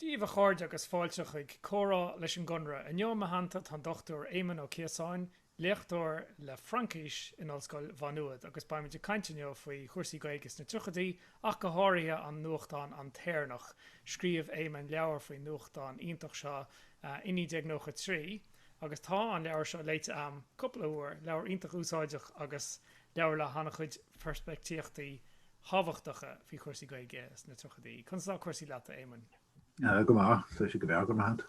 daoibh a chairde agus fáilte chuig Comhrá leis an gConradh. Inniu i mo theannta tá an Dr Éamon Ó Cíosáin, léachtóir le Fraincis in Ollscoil Mhá Nuad agus beimid ag caint inniu faoi chúrsaí Gaeilge sna tríochaidí ach go háirithe an nuachtán An t-Éireannach. Scríobh Éamon leabhar faoin nuachtán iontach seo i 1993 agus tá an leabhar seo léite a'm cúpla uair. Leabhar iontach úsáideach agus leabhar le han-chuid peirspictíochtaí thábhachtacha faoi chúrsaí Gaeilge sna tríochaidí. Conas atá cúrsaí leat, a Éamoinn? Go maith, go breá, go raibh maith agat.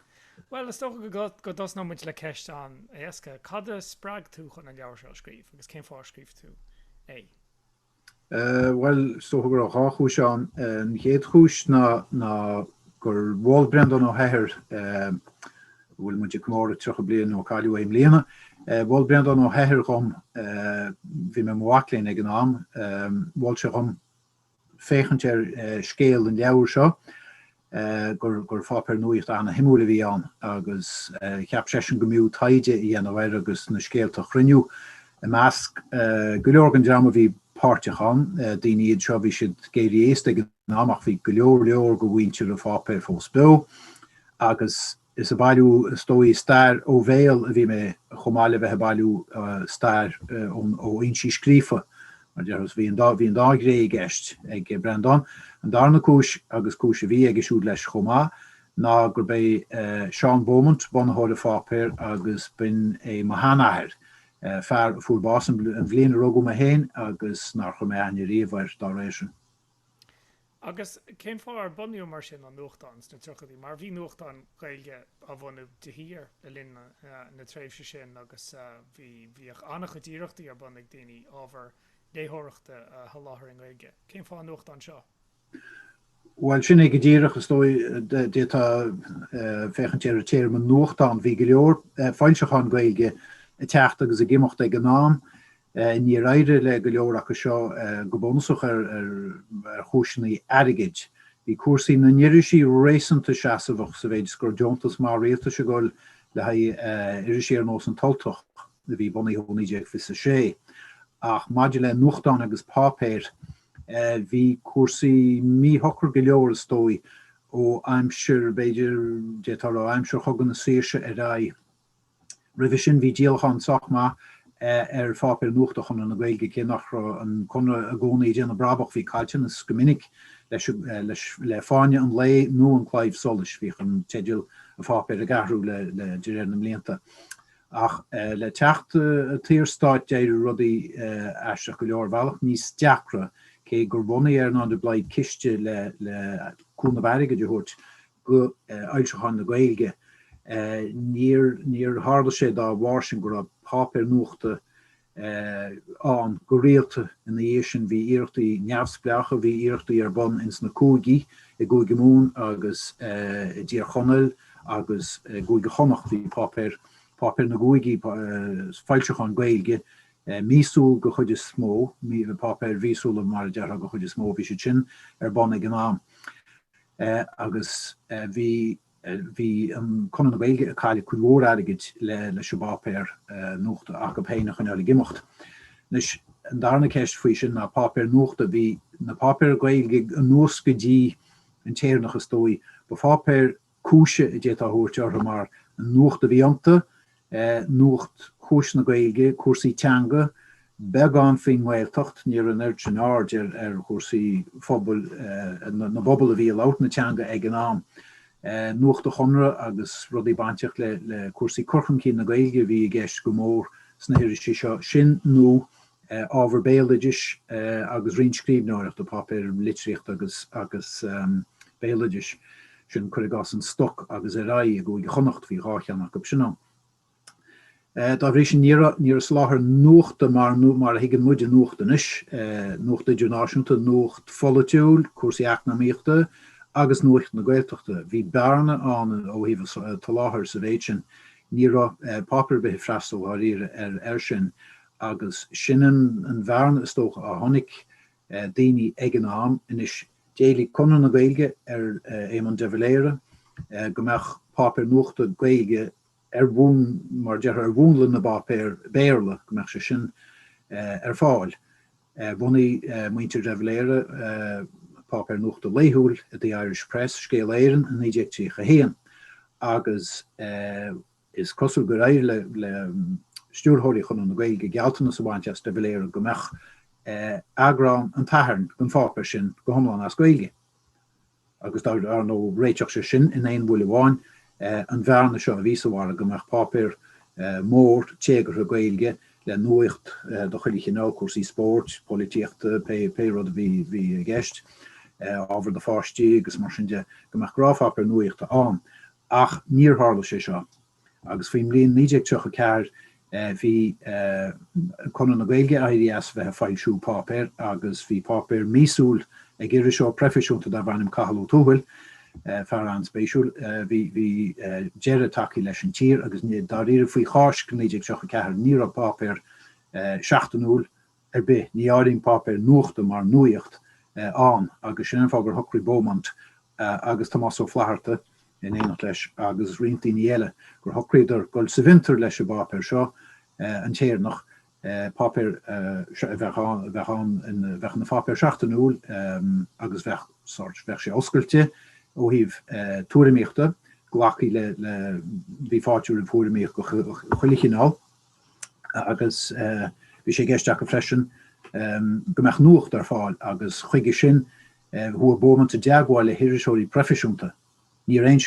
Bhuel, is dócha go dtosnóidh muid le ceist an-éasca. Cad a spreag tú chun an leabhar seo a scríobh agus cén fáth ar scríobh tú é? Bhuel, is dócha go raibh dhá chúis ann. An chéad chúis ná gur mhol Breandán Ó hEithir bhfuil muid ag comóradh 30 bliain ó cailleadh é i mbliana. Mhol Breandán Ó hEithir dhom, bhí mé i mo mhac léinn ag an am, mhol sé dhom féachaint ar scéal an leabhair seo, gur pháipéar nuachta an-suimiúil a bhí ann agus cheap seisean go mb'fhiú taighde a dhéanamh air agus na scéalta a chruinniú. I measc go leor den dream a bhí páirteach ann, daoine iad seo a bhí siad ag éirí aosta ag an am ach bhí go leor leor de mhuintir an pháipéir fós beo agus is ag bailiú is dóigh stair ó bhéal a bhí mé chomh maith le bheith ag bailiú stair ó fhoinsí scríofa mar déarfá bhí an dá bhí an dá ghné i gceist ag Breandán an darna cúis agus cúis a bhí aige siúd leis chomh maith ná gurb é Seán Beaumont bunaitheoir an pháipéir agus b'in é mo sheanathair fear a fuair bás an bhliain a rugadh mé féin agus nár chur mé aithne riamh air dá réir sin. Agus cén fáth ar bunaíodh mar sin an nuachtán sna tríochaidí? Mar bhí nuachtáin Ghaeilge á mbunú de shíor le linn na tréimhse sin agus bhí, bhíodh an-chuid iarrachtaí ar bun ag daoine ábhar léitheoireachta a sholáthar i nGaeilge. Cén fáth an nuachtán seo? Bhuel, sin é go díreach, is dóigh, d'fhéadfá féachaint ar an téarma nuachtán. Bhí go leor foilseachán Gaeilge ag teacht agus ag imeacht ag an am. Níor éirigh le go leor acu seo, go bunúsach ar chúiseanna airgid. Bhí cúrsaí na n-irisí réasúnta seasamhach sa mhéid is go raibh deontas maith rialtais ag dul le haghaidh irisí ar nós An tUltach, a bhí bunaithe ó 1926, ach maidir le nuachtáin agus páipéir bhí cúrsaí míshocair go leor, is dóigh, ó aimsir, b'fhéidir, déarfá, aimsir Chogadh na Saoirse ar aghaidh. Roimhe sin bhí díolachán sách maith ar pháipéir nuachta Chonradh na Gaeilge. Cé nach raibh an Conradh i gcónaí ag déanamh brabach bhí caillteanas go minic leis. Le Fáinne an Lae nó An Claidheamh Soluis bhíodh an teideal an pháipéir ag athrú de réir na mblianta. Ach le teacht an tSaorstáit d'éirigh rudaí aisteach go leor, ar bhealach níos deacra. Cé gur bhunaigh Earnán de Blaghd ciste le cúnamh airgid a thabhairt, go fhoilseacháin na Gaeilge. Níor tharla sé dá bharr sin go raibh páipéar nuachta ann go rialta ina dhiaidh sin. Bhí iarrachtaí neamhspleácha, bhí iarrachtaí ar bun ins na cúigí, i gCúige Mumhan agus i dTír Chonaill agus i gCúige Chonnacht. Bhí páipéir, páipéir na gcúigí, foilseacháin Gaeilge míosúil go chuid is mó, páipéir mhíosúla mar a déarfá go chuid is mó, bhí siad sin ar bun ag an am. agus bhí bhí an Conradh na Gaeilge ag cailleadh cuid mhór airgid le leis an bpáipéar nuachta acu féin a choinneáil ag imeacht. Anois an darna ceist faoi sin ná páipéar nuachta, bhí na páipéir Gaeilge anuas go dtí an tÉireannach is dóigh, ba pháipéir cúise a d'fhéadfá a thabhairt orthu mar an nuacht a bhí iontu, Nuacht chúis na Gaeilge, Cúrsaí teanga, beagán faoin nGaeltacht, ní raibh an oiread sin aird ar chúrsaí phobail na bpobal a bhí ag labhairt na teanga ag an am. Nuacht an Chonradh agus rudaí bainteach le cúrsaí cur chun cinn na Gaeilge a bhí i gceist go mór sna hirisí seo, sin nó ábhar béaloidis agus roinnt scríbhneoireachta, páipéir litríochta agus béaloideas, sin, cuir i gcás, An Stoc agus Ar Aghaidh, i gCúige Chonnacht, bhí dhá cheann acu sin ann. Dá bhrí sin ní raibh soláthar nuachta mar a thuigeann muide nuacht anois, nuacht idirnáisiúnta, nuacht pholaitiúil, cúrsaí eacnamaíochta agus nuacht na Gaeltachta, bhí bearna ann ó thaobh an tsoláthair sa mhéid sin, ní raibh páipéar ar bith ag freastal dháiríre air sin. agus sin an bhearna is dóigh a chonaic daoine ag an am. Anois d'éiligh Conradh na Gaeilge ar Éamon de Valera go mbeadh páipéar nuachta Gaeilge ar bhun, mar a déarfá, ar mhúnla na bpáipéar Béarla, go mbeadh sé sin ar fáil. Bhunaigh muintir de Valera páipéar nuachta laethúil, The Irish Press, Scéala Éireann, i 1931 agus, Is cosúil gur éirigh le stiúrthóirí Chonradh na Gaeilge gealltanas a bhaint as de Valera go mbeadh eagrán an tSathairn gon pháipéar sin go hiomlán as Gaeilge. Agus dar ndóigh réiteodh sé sin, in aon bhuille amháin, an bhearna seo a bhí sa mhargadh go mbeadh páipéar mór téagartha Gaeilge le nuacht de chuile chineál, cúrsaí spóirt, polaitíochta, pé rud a bhí i gceist, ábhar do pháistí agus mar sin de, go mbeadh gnáthpháipéar nuachta ann. Ach níor tharla sé seo agus faoin mbliain 1934 bhí Conradh na Gaeilge ag éirí as a bheith ag foilsiú páipéir agus bhí páipéar míosúil ag iriseoir proifisiúnta darbh ainm Cathal Ó Tuathail, fear an-spéisiúil. Bhí deireadh tagtha leis An Tír agus dáiríribh faoi Cháisc 1934 ní raibh páipéar seachtainiúil ar bith, ní áirím páipéir nuachta mar nuacht ann agus sin an fáth gur shocraigh Beaumont agus Tomás Ó Flaithearta, in éineacht leis agus roinnt daoine eile, gur shocraíodar dul sa bhfiontar leis an bpáipéar seo, An tÉireannach, páipéar a bheadh ann, a bheadh ann, bheadh ina pháipéar seachtainiúil agus bheadh sórt, bheadh sé oscailte ó thaobh tuairimíochta, glacfaí le, le, bhí fáilte roimh thuairimíocht de chuile chineál. agus bhí sé i gceist acu freisin go mbeadh nuacht ar fáil agus chuige sin chuaigh Beaumont i dteagmháil le hiriseoirí proifisiúnta. Ní raibh aon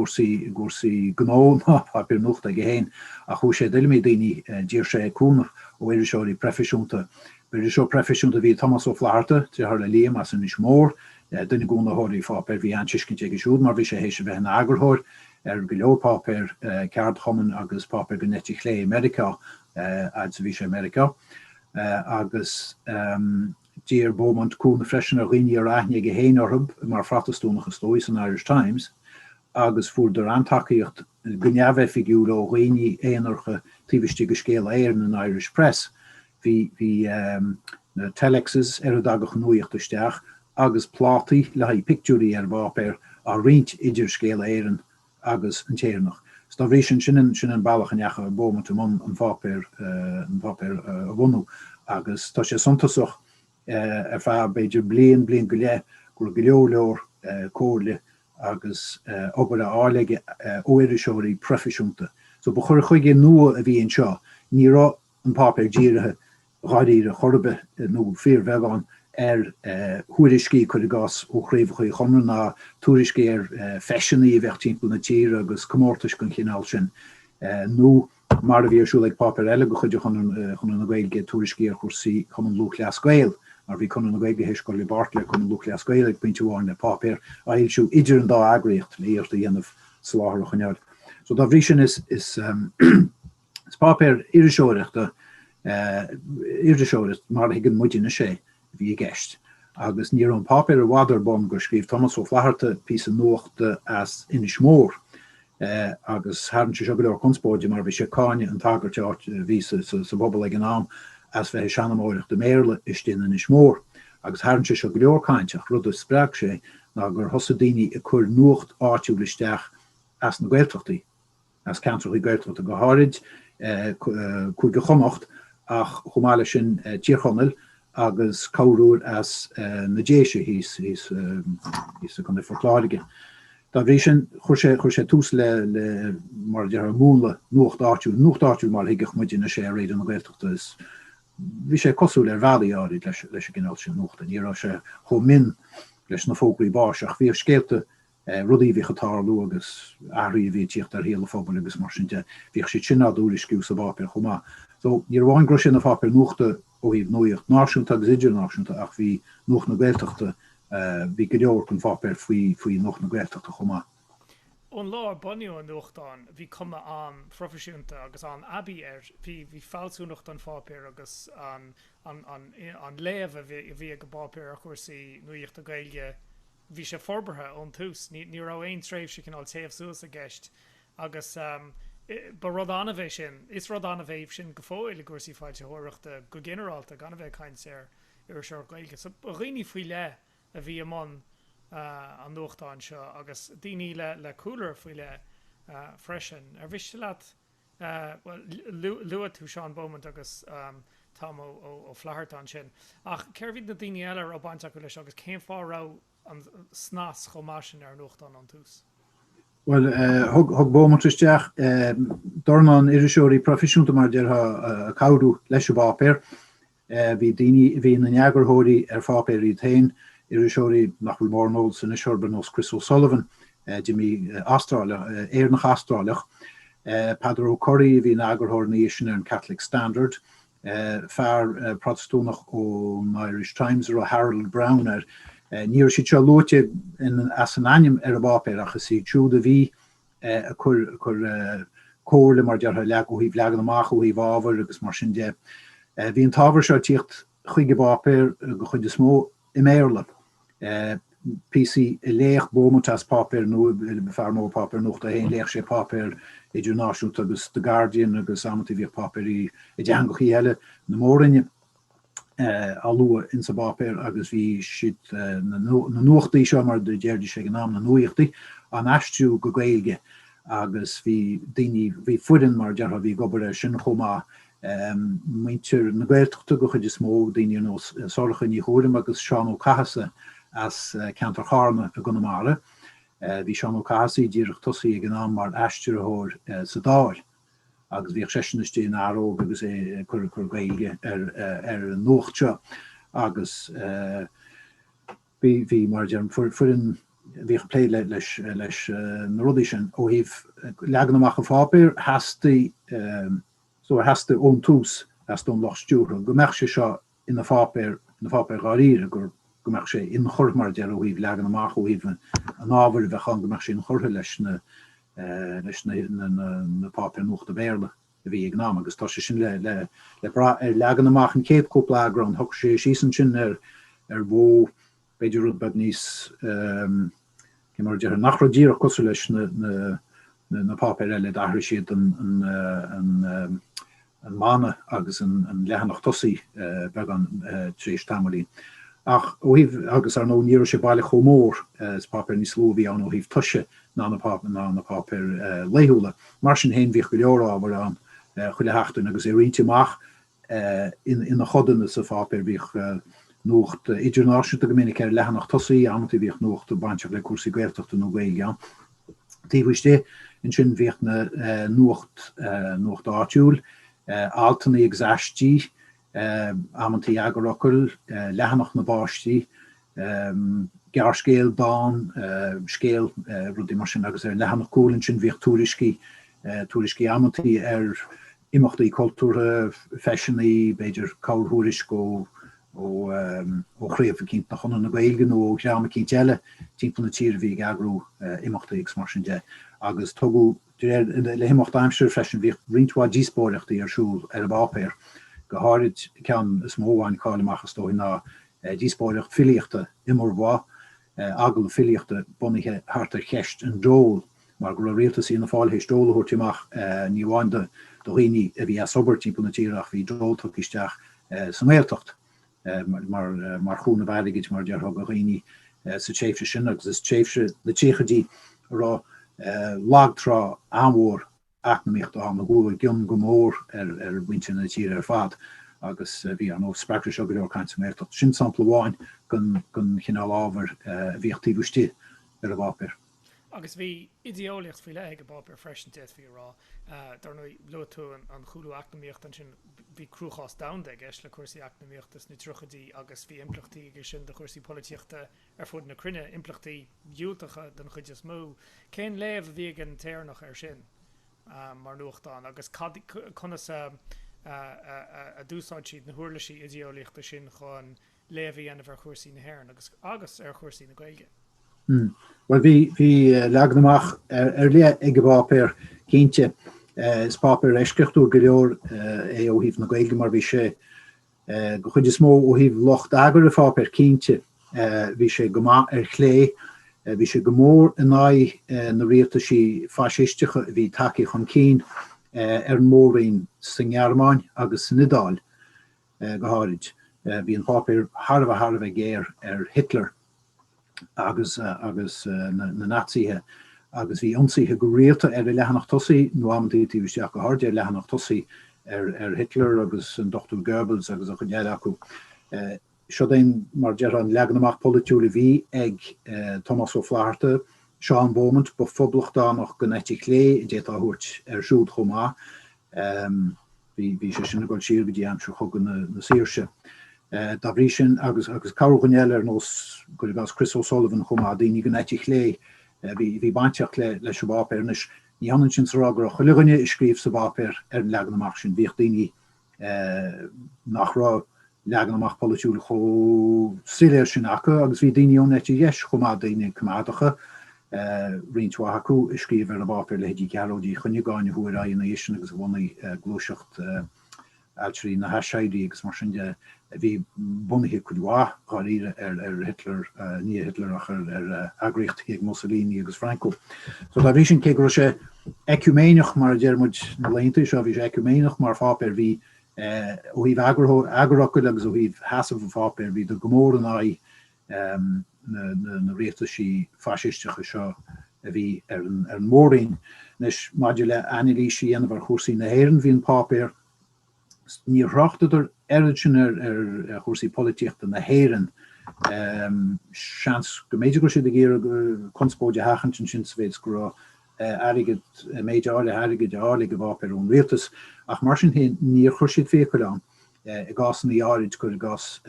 scil i gcúrsaí gnó ná páipéir nuachta aige féin ach chuaigh sé i dtuilleamaí daoine. D'iarr sé cúnamh ó iriseoirí proifisiúnta. Ba iriseoir proifisiúnta a bhí i Tomás Ó Flaithearta, deartháir le Liam as Inis Mór, duine de chúnaitheoirí an pháipéir. Bhí an-tuiscint aige siúd mar bhí sé théis a bheith ina eagarthóir ar go leor páipéir ceardchumainn agus páipéir den eite chlé i Meiriceá fhad 's a bhí sé i Meiriceá, agus d'iarr Beaumont cúnamh freisin ar dhaoine a raibh aithne aige féin orthu mar Phrotastúnach, is dóigh, san Irish Times, agus fuaireadar an-tacaíocht go neamhoifigiúil ó dhaoine aonaracha taobh istigh de Scéala Éireann, an Irish Press, Bhí na telexes, ar a dtagadh an nuaíocht isteach, agus plátaí le haghaidh pictiúirí ar an bpáipéar á roinnt idir Scéala Éireann agus An tÉireannach. So dá bhrí sin, sin an bealach a ndeachaigh Beaumont i mbun an pháipéar a bhunú. Agus tá sé suntasach ar feadh b'fhéidir bliain, bliain go leith go raibh go leor leor comhairle agus obair á fháil aige ó iriseoirí proifisiúnta. So ba chur chuige nua a bhí anseo. Ní raibh. an páipéar dírithe dháiríre chor ar bith, nó fíorbheagán, ar thuairiscí, cuir i gcás, ó chraobhacha Chonradh na, tuairiscí ar feiseanna a bheadh timpeall na tíre agus comórtais den chineál sin, nó, mar a bhí ar siúl ag páipéar eile de chuid Chonradh na Gaeilge, tuairiscí ar chúrsaí Chumann Lúthchleas Gael, mar bhí Conradh na Gaeilge théis dul i mbeart le Cumann Lúthchleas Gael ag pointe amháin le páipéar a fhoilsiú idir an dá eagraíocht le hiarracht a dhéanamh soláthar a choinneáil. So dá bhrí sin is. páipéar iriseoireachta, iriseoireacht mar a thuigeann muid inniu é, a bhí i gceist, agus ní raibh an páipéar i bhfad ar bun gur scríobh Tomás Ó Flatharta píosa nuachta as Inis Mór, agus tharraing sé seo go leor conspóide mar bhí sé ag cáineadh an tsagairt a bhí sa bpobal ag an am as bheith ag seanmóireacht i mBéarla istigh in Inis Mór. Agus tharraing sé seo go leor caint, ach rud a spreag sé ná gur thosaigh daoine ag cur nuacht áitiúil isteach as na Gaeltachtaí. as ceantracha Gaeltachta go háirid, Cúige Chonnacht ach chomh maith leis sin Tír Chonaill agus corruair as na Déise i gContae Phort Láirge. Dá bhrí sin chuir sé tús le, mar a déarfá, múnla nuacht áitiúil, nuacht áitiúil mar a thuigfeadh muid inniu é ar Raidió na Gaeltachta. Bhí sé cosúil ar bhealaí áirid leis an gcineál sin nuachta, ní raibh sé chomh mion leis na fógraí báis ach bhíodh scéalta, rudaí a bhíodh ag tarlú agus athruithe a bhí ag tíocht ar shaol an phobail agus mar sin de. Bhíodh siad sin á dtuairisciú sa bpáipéar chomh maith. So, ní hamháin go raibh sé ina pháipéar nuachta ó thaobh nuacht náisiúnta agus idirnáisiúnta ach bhí Nuacht na Gaeltachta, bhí go leor den pháipéar faoi faoi Nuacht na Gaeltachta chomh maith. Ón lá ar bunaíodh an nuachtán bhí cuma an-phroifisiúnta agus an-aibí air. Bhí bhí fealsúnacht an pháipéir agus an an an an léamh a bhí a bhí ag an bpáipéar ar chúrsaí nuaíochta Gaeilge, bhí sé forbartha ón tús, ní raibh aon tréimhse cineál téamh suas i gceist agus ba rud annamh é sin, is rud annamh é sin go fóill i gcúrsaí foilsitheoireachta go ginearálta, gan a bheith ag caint ar iriseoireacht Ghaeilge. So ba dhaoine faoi leith a bhí i mbun an nuachtáin seo agus daoine le cúlra faoi leith freisin. Ar mhiste leat Bhuel, luaigh tú Seán Beaumont agus Tom Ó Flatharta ansin, ach cérbh iad na daoine eile a raibh baint acu leis agus cén fáth a raibh an snas chomh maith sin ar an nuachtán ón tús? Bhuel, thug Beaumont isteach dornán iriseoirí proifisiúnta, mar a déarfá, ag cabhrú leis an bpáipéar. Bhí daoine a bhí ina n-eagarthóirí ar pháipéir iad féin, iriseoirí nach bhfuil mórán eolas anois orthu ar nós Chris O'Sullivan, d'imigh, Astráileach, Éireannach-Astráileach, Peadar O'Curry a bhí ina eagarthóir ina dhiaidh sin ar The Catholic Standard, fear Protastúnach ón Irish Times a raibh Harold Brown air. Ní raibh siad seo luaite as a n-ainm ar an bpáipéar ach is iad siúd a bhí a chuir comhairle, mar a déarfá, leo ó thaobh leagan amach, ó thaobh ábhair agus mar sin de. Bhí an t-ábhar seo ag tíocht chuig an bpáipéar an chuid is mó i mBéarla, píosaí a léadh Beaumont as páipéar nua, fear mór páipéar nuachta a bhí ann, léadh sé páipéir idirnáisiúnta agus The Guardian agus amannta bhíodh páipéirí i dteangachaí eile na Mór-roinne. á lua insa bpáipéar agus bhí siad, na nuachtaí seo, mar a déarfaidís ag an am, na nuaíochtaí, á n-aistriú go Gaeilge agus bhí daoine, bhí foireann, mar a déarfá, bhí ag obair air sin chomh maith, muintir na Gaeltachta go chuid is mó, daoine ar nós Sorcha Ní Ghuairim agus Seán Ó Cathasaigh as ceantar Charna i gConamara. Bhí Seán Ó Cathasaigh díreach tosaithe ag an am mar aistritheoir sa Dáil agus bhíodh seisean istigh in Ár Ré óg agus é ag cur Gaeilge ar an nuacht seo agus bhí mar a deirim foireann bhíodh ag plé leis na rudaí sin ó thaobh leagan amach an pháipéir theastaigh, so, theastaigh ón tús theastaigh ón lucht stiúrtha go mbeadh sé seo ina pháipéar, ina pháipéar dháiríre, gur, go mbeadh sé inchurtha, mar a déarfá, ó thaobh leagan amach, ó thaobh an ábhair a bheadh ann, go mbeadh sé inchurtha leis na, leis na, na, na, na páipéir nuachta Béarla a bhí ag an am agus tá sé sin le, le, le brath ar leagan amach an chéad cúpla eagrán, shocraigh sé síos ansin ar, ar mhodh, b'fhéidir rud beag níos cén, mar a déarfá, nach raibh díreach cosúil leis na páipéir eile d'athraigh siad an mana agus an leathanach tosaigh beagán tar éis tamaillín ach ó thaobh agus ar ndóigh ní raibh sé baileach chomh mór is páipéar níos lú a bhí ann ó thaobh toise ná na páipéir laethúla mar sin héin bhíodh go leor ábhair ann chuile sheachtain agus é roinnte amach ina chodanna sa pháipéar. Bhíodh nuacht idirnáisiúnta go minic ar leathanach tosaigh, amantaí bhíodh nuachta bainteach le cúrsaí Gaeltachta nó Gaeilge ann. Taobh istigh ansin bhíodh na nuacht, nuacht áitiúil, altanna agus aistí, amantaí eagarfhocal, leathanach na bpáistí, gearrscéal, dán, scéal, rudaí mar sin agus ar an leathanach cúil ansin bhíodh tuairiscí, tuairiscí amantaí ar imeachtaí cultúrtha, feiseanna, b'fhéidir corrthuairisc ó chraobh eicínt de Chonradh na Gaeilge nó ó dhream eicínt eile timpeall na tíre a bhí ag eagrú imeachtaí agus mar sin de. Agus tugadh, de réir, le himeacht aimsire freisin bhíodh roinnt mhaith díospóireachtaí ar siúl ar an bpáipéar, go háirid ceann is mó a bhain cáil amach is dóigh ná díospóireacht filíochta Iomarbhá, agallamh filíochta bunaithe thart ar cheist an dóil mar go raibh rialtas Fhianna Fáil théis dól a thabhairt amach ní amháin do dhaoine a bhí as obair timpeall na tíre ach bhí dól tugtha isteach sa nGaeltacht mar chúnamh airgid mar a déarfá do dhaoine sa tréimhse sin agus is tréimhse na dtríochaidí a raibh lagtrá an-mhór eacnamaíochta ag goilleadh go mór ar mhuintir na tíre ar fad agus bhí, ar ndóigh, spreagfadh seo go leor caint sa nGaeltacht. Sin sampla amháin den chineál ábhair a bhíodh taobh istigh ar an bpáipéar. Agus bhí idé-eolaíocht faoi leith ag an bpáipéar freisin, d'fhéadfaí a rá. Dar ndóigh, luaigh tú an cúlú eacnamaíochta ansin. Bhí cruachás domhanda i gceist le cúrsaí eacnamaíochta sna tríochaidí agus bhí impleachtaí aige sin do chúrsaí polaitíochta ar fud na cruinne, impleachtaí diúltacha den chuid is mó. Cén léamh a bhí ag an tÉireannach air sin mar nuachtán agus conas a d'úsáid siad na huirlisí idéolaíochta sin chun léamh a dhéanamh ar chúrsaí na hÉireann agus agus ar chúrsaí na Gaeilge? Bhuel, bhí leagan amach ar leith ag an bpáipéar, cinnte. Is páipéar eisceachtúil go leor é ó thaobh na Gaeilge mar bhí sé, Den chuid is mó ó thaobh lucht eagair an pháipéir cinnte, bhí sé go maith ar chlé, bhí sé go mór in aghaidh na rialtaisí faisisteacha a bhí tagtha chun cinn ar an mór-roinn sa nGearmáin agus san Iodáil go háirid, bhí an páipéar thar a bheith thar a bheith géar ar Hitler. agus agus na Naitsithe agus bhí ionsaithe go rialta ar an leathanach tosaigh nó amantaí taobh istigh ach go háirid ar an leathanach tosaigh ar ar Hitler agus an Dr Goebbels agus an chuid eile acu. Siod é mar a déarfá an leagan amach polaitiúil a bhí ag Tomás Ó Flatharta, Seán Beaumont ba phoblachtánach den eite chlé a d'fhéadfá a thabhairt air siúd chomh maith. bhí sé sin ag dul siar go dtí aimsir Chogadh na Saoirse. Dá bhrí sin agus corrdhuine eile ar nós, cuir i gcás, Criostóir Mac Aonghusa chomh maith, daoine den eite chlé a bhí bainteach leis an bpáipéar. Anois, ní hionann sin is a rá go raibh chuile dhuine a scríobh sa bpáipéar ar an leagan amach sin, bhíodh daoine nach raibh leagan amach polaitiúil chomh soiléir sin acu agus bhí daoine ón eite dheis chomh maith, daoine coimeádacha, roinnt mhaith acu a scríobh ar an bpáipéar, leithéidí Ghearóid Uí Chuinneagáin a chuaigh ar aghaidh ina dhiaidh sin agus a bhunaigh gluaiseacht Ailtirí na hAiséirí agus mar sin de a bhí bunaithe cuid mhaith, dháiríre, ar Hitler, ní Hitler ach ar eagraíochtaí ag Mussolini agus Franco. So dá bhrí sin, cé go raibh sé eiciúméineach, mar a deir muid na laethanta seo, bhí sé eiciúméineach mar pháipéar, bhí Ó thaobh eagarfhocail agus ó thaobh sheasamh an pháipéir bhíodar go mór in aghaidh na rialtaisí faisisteacha seo a bhí ar an Mór-Roinn. Anois maidir le hanailís a dhéanamh ar chúrsaí na hÉireann bhí an páipéar, níor thráchtadar oiread sin ar chúrsaí polaitíochta na hÉireann, seans go mb'fhéidir go raibh siad ag iarraidh conspóid a sheachaint ansin sa mhéid is go raibh airgead, méid áirithe airgid á fháil ag an bpáipéar ón Rialtas, ach mar sin féin níor chuir siad fiacail ann. I gcásanna áirid, cuir i gcás,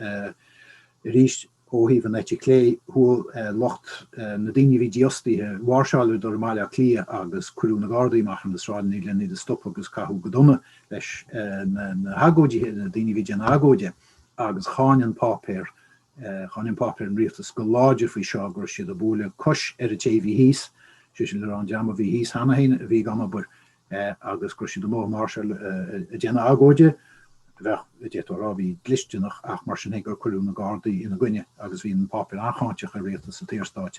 arís ó thaobh an eite chlé, chuaigh lucht, na daoine a bhí dífhostaithe, mháirseáileadar i mBaile Átha Cliath agus cuireadh na Gardaí amach ar na sráideanna len iad a stopadh agus caitheadh go dona leis na hagóidithe, na daoine a bhí ag déanamh agóide, agus cháin an páipéar Cháin an páipéar an rialtas go láidir faoi seo, go raibh siad ag bualadh cos ar an té a bhí thíos, sé sin le rá an dream a bhí thíos cheana féin a bhí gan obair, agus go raibh siad amuigh ag máirseáil, ag déanamh agóide a bheadh, d'fhéadfá a rá, a bhí dlisteanach ach mar sin féin gur cuireadh na Gardaí ina gcoinne agus bhí an páipéar an-cháinteach ar rialtas an tSaorstáit.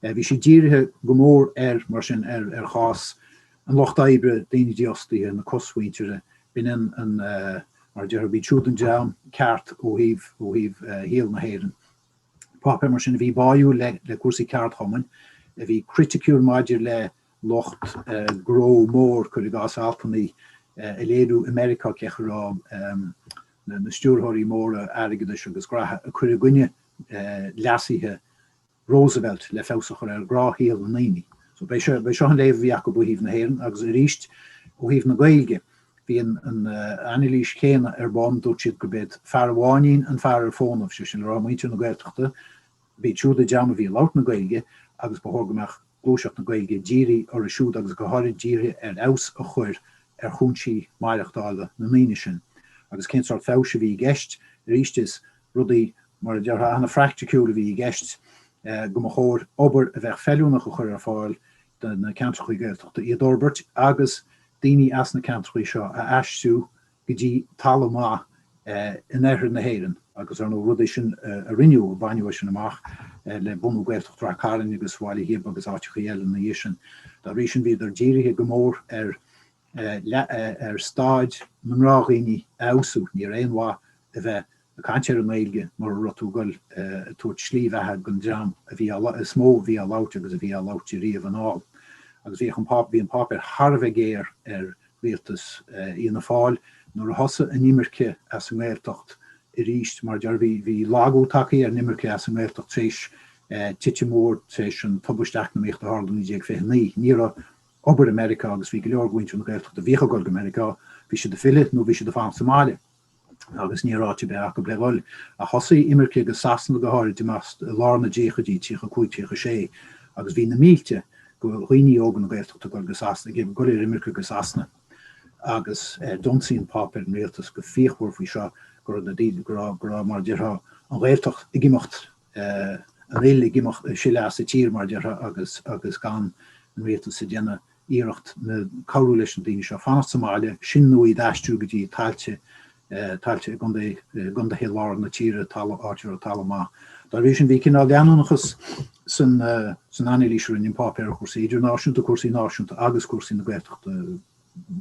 Bhí siad dírithe go mór ar, mar sin, ar chás, an lucht oibre, daoine dífhostaithe, na cosmhuintire, b'in an, mar a déarfá, b'iad siúd an dream ceart ó thaobh, ó thaobh shaol na hÉireann. Páipéar mar sin a bhí báúil le, le cúrsaí ceardchumainn, a bhí criticiúil maidir le lucht gnó mór, cuir i gcás altannaí ag léiriú i Meiriceá cén chaoi a raibh na, na stiúrthóirí móra airgeadais agus graithe, ag cur i gcoinne leasuithe Roosevelt le feabhas a chur ar ghnáthshaol na ndaoine. So b'é seo, b'é seo an léamh a bhí acu ó thaobh na hÉireann agus arís ó thaobh na Gaeilge bhí an an anailís chéanna ar bun, dúirt siad go b'é fear an bháinín an fear ar fónamh, sé sin le rá muintir na Gaeltachta, b'iad siúd an dream a bhí ag labhairt na Gaeilge agus ba chóir go mbeadh gluaiseacht na Gaeilge dírithe orthu siúd agus go háirid dírithe ar fheabhas a chur ar chúinsí maireachtála na ndaoine sin. Agus cén sort feabhais a bhí i gceist? Arís is. Rudaí, mar a déarfá, an-phraicticiúil a bhí i gceist, go mba chóir obair a bheadh feiliúnach a chur ar fáil do na ceantrachaí Gaeltachta, iad a fhorbairt agus daoine as na ceantrachaí seo a aistriú go dtí talamh maith in oirthear na hÉireann. Agus ar ndóigh, rud é sin a rinneadh, a baineadh é sin amach le bunú Gaeltacht Ráth Cairn agus Bhaile Ghib agus áiteachaí eile ina dhiaidh sin. Dá bhrí sin bhíodar dírithe go mór ar leath ar staid na ngnáthdhaoine a fheabhsú. Níorbh aon mhaith a bheith ag caint ar an nGaeilge mura raibh tú ag dul ag tabhairt slí bheatha don dream is mó a bhí á labhairt agus a bhí á labhairt ariamh anall. Agus bhí an páipéar thar a bheith géar ar rialtas Fhianna Fáil nuair a thosaigh an imirce as an nGaeltacht arís. Mar a déarfá, bhí lagú tagtha ar an imirce as an nGaeltacht tar éis titim mhór tar éis an tubaist eacnamaíochta a tharla i 1929. Ní raibh. obair i Meiriceá agus bhí go leor go mhuintir na Gaeltachta a bhíodh ag dul go Meiriceá, bhí siad ag filleadh nó bhí siad ag fanacht sa mbaile agus ní raibh áit ar bith acu le dhul. Ach thosaigh imirce go Sasana go háirid amach i lár na dtríochaidí, tríocha a cúig, tríocha a sé, agus bhí na mílte go dhaoine óga na Gaeltachta ag dul go Sasana, ag dul ar imirce go Sasana. Agus d'ionsaigh an páipéar an rialtas go fíochmhar faoi seo, go raibh na daoine, go raibh, mar a déarfá, an Ghaeltacht ag imeacht. an fhuil ag imeacht ag sileadh as an tír mar a déarfá agus agus gan an rialtas ag déanamh iarracht ná cabhrú leis na daoine seo fanacht sa mbaile sin nó iad a aistriú go dtí tailte tailte i gcontae gcontaetha lár na tíre tala áit a raibh talamh maith. Dá bhrí sin bhí cineál leanúnachas san san anailís a rinne an páipéar ar chúrsaí idirnáisiúnta, cúrsaí náisiúnta agus cúrsaí na Gaeltachta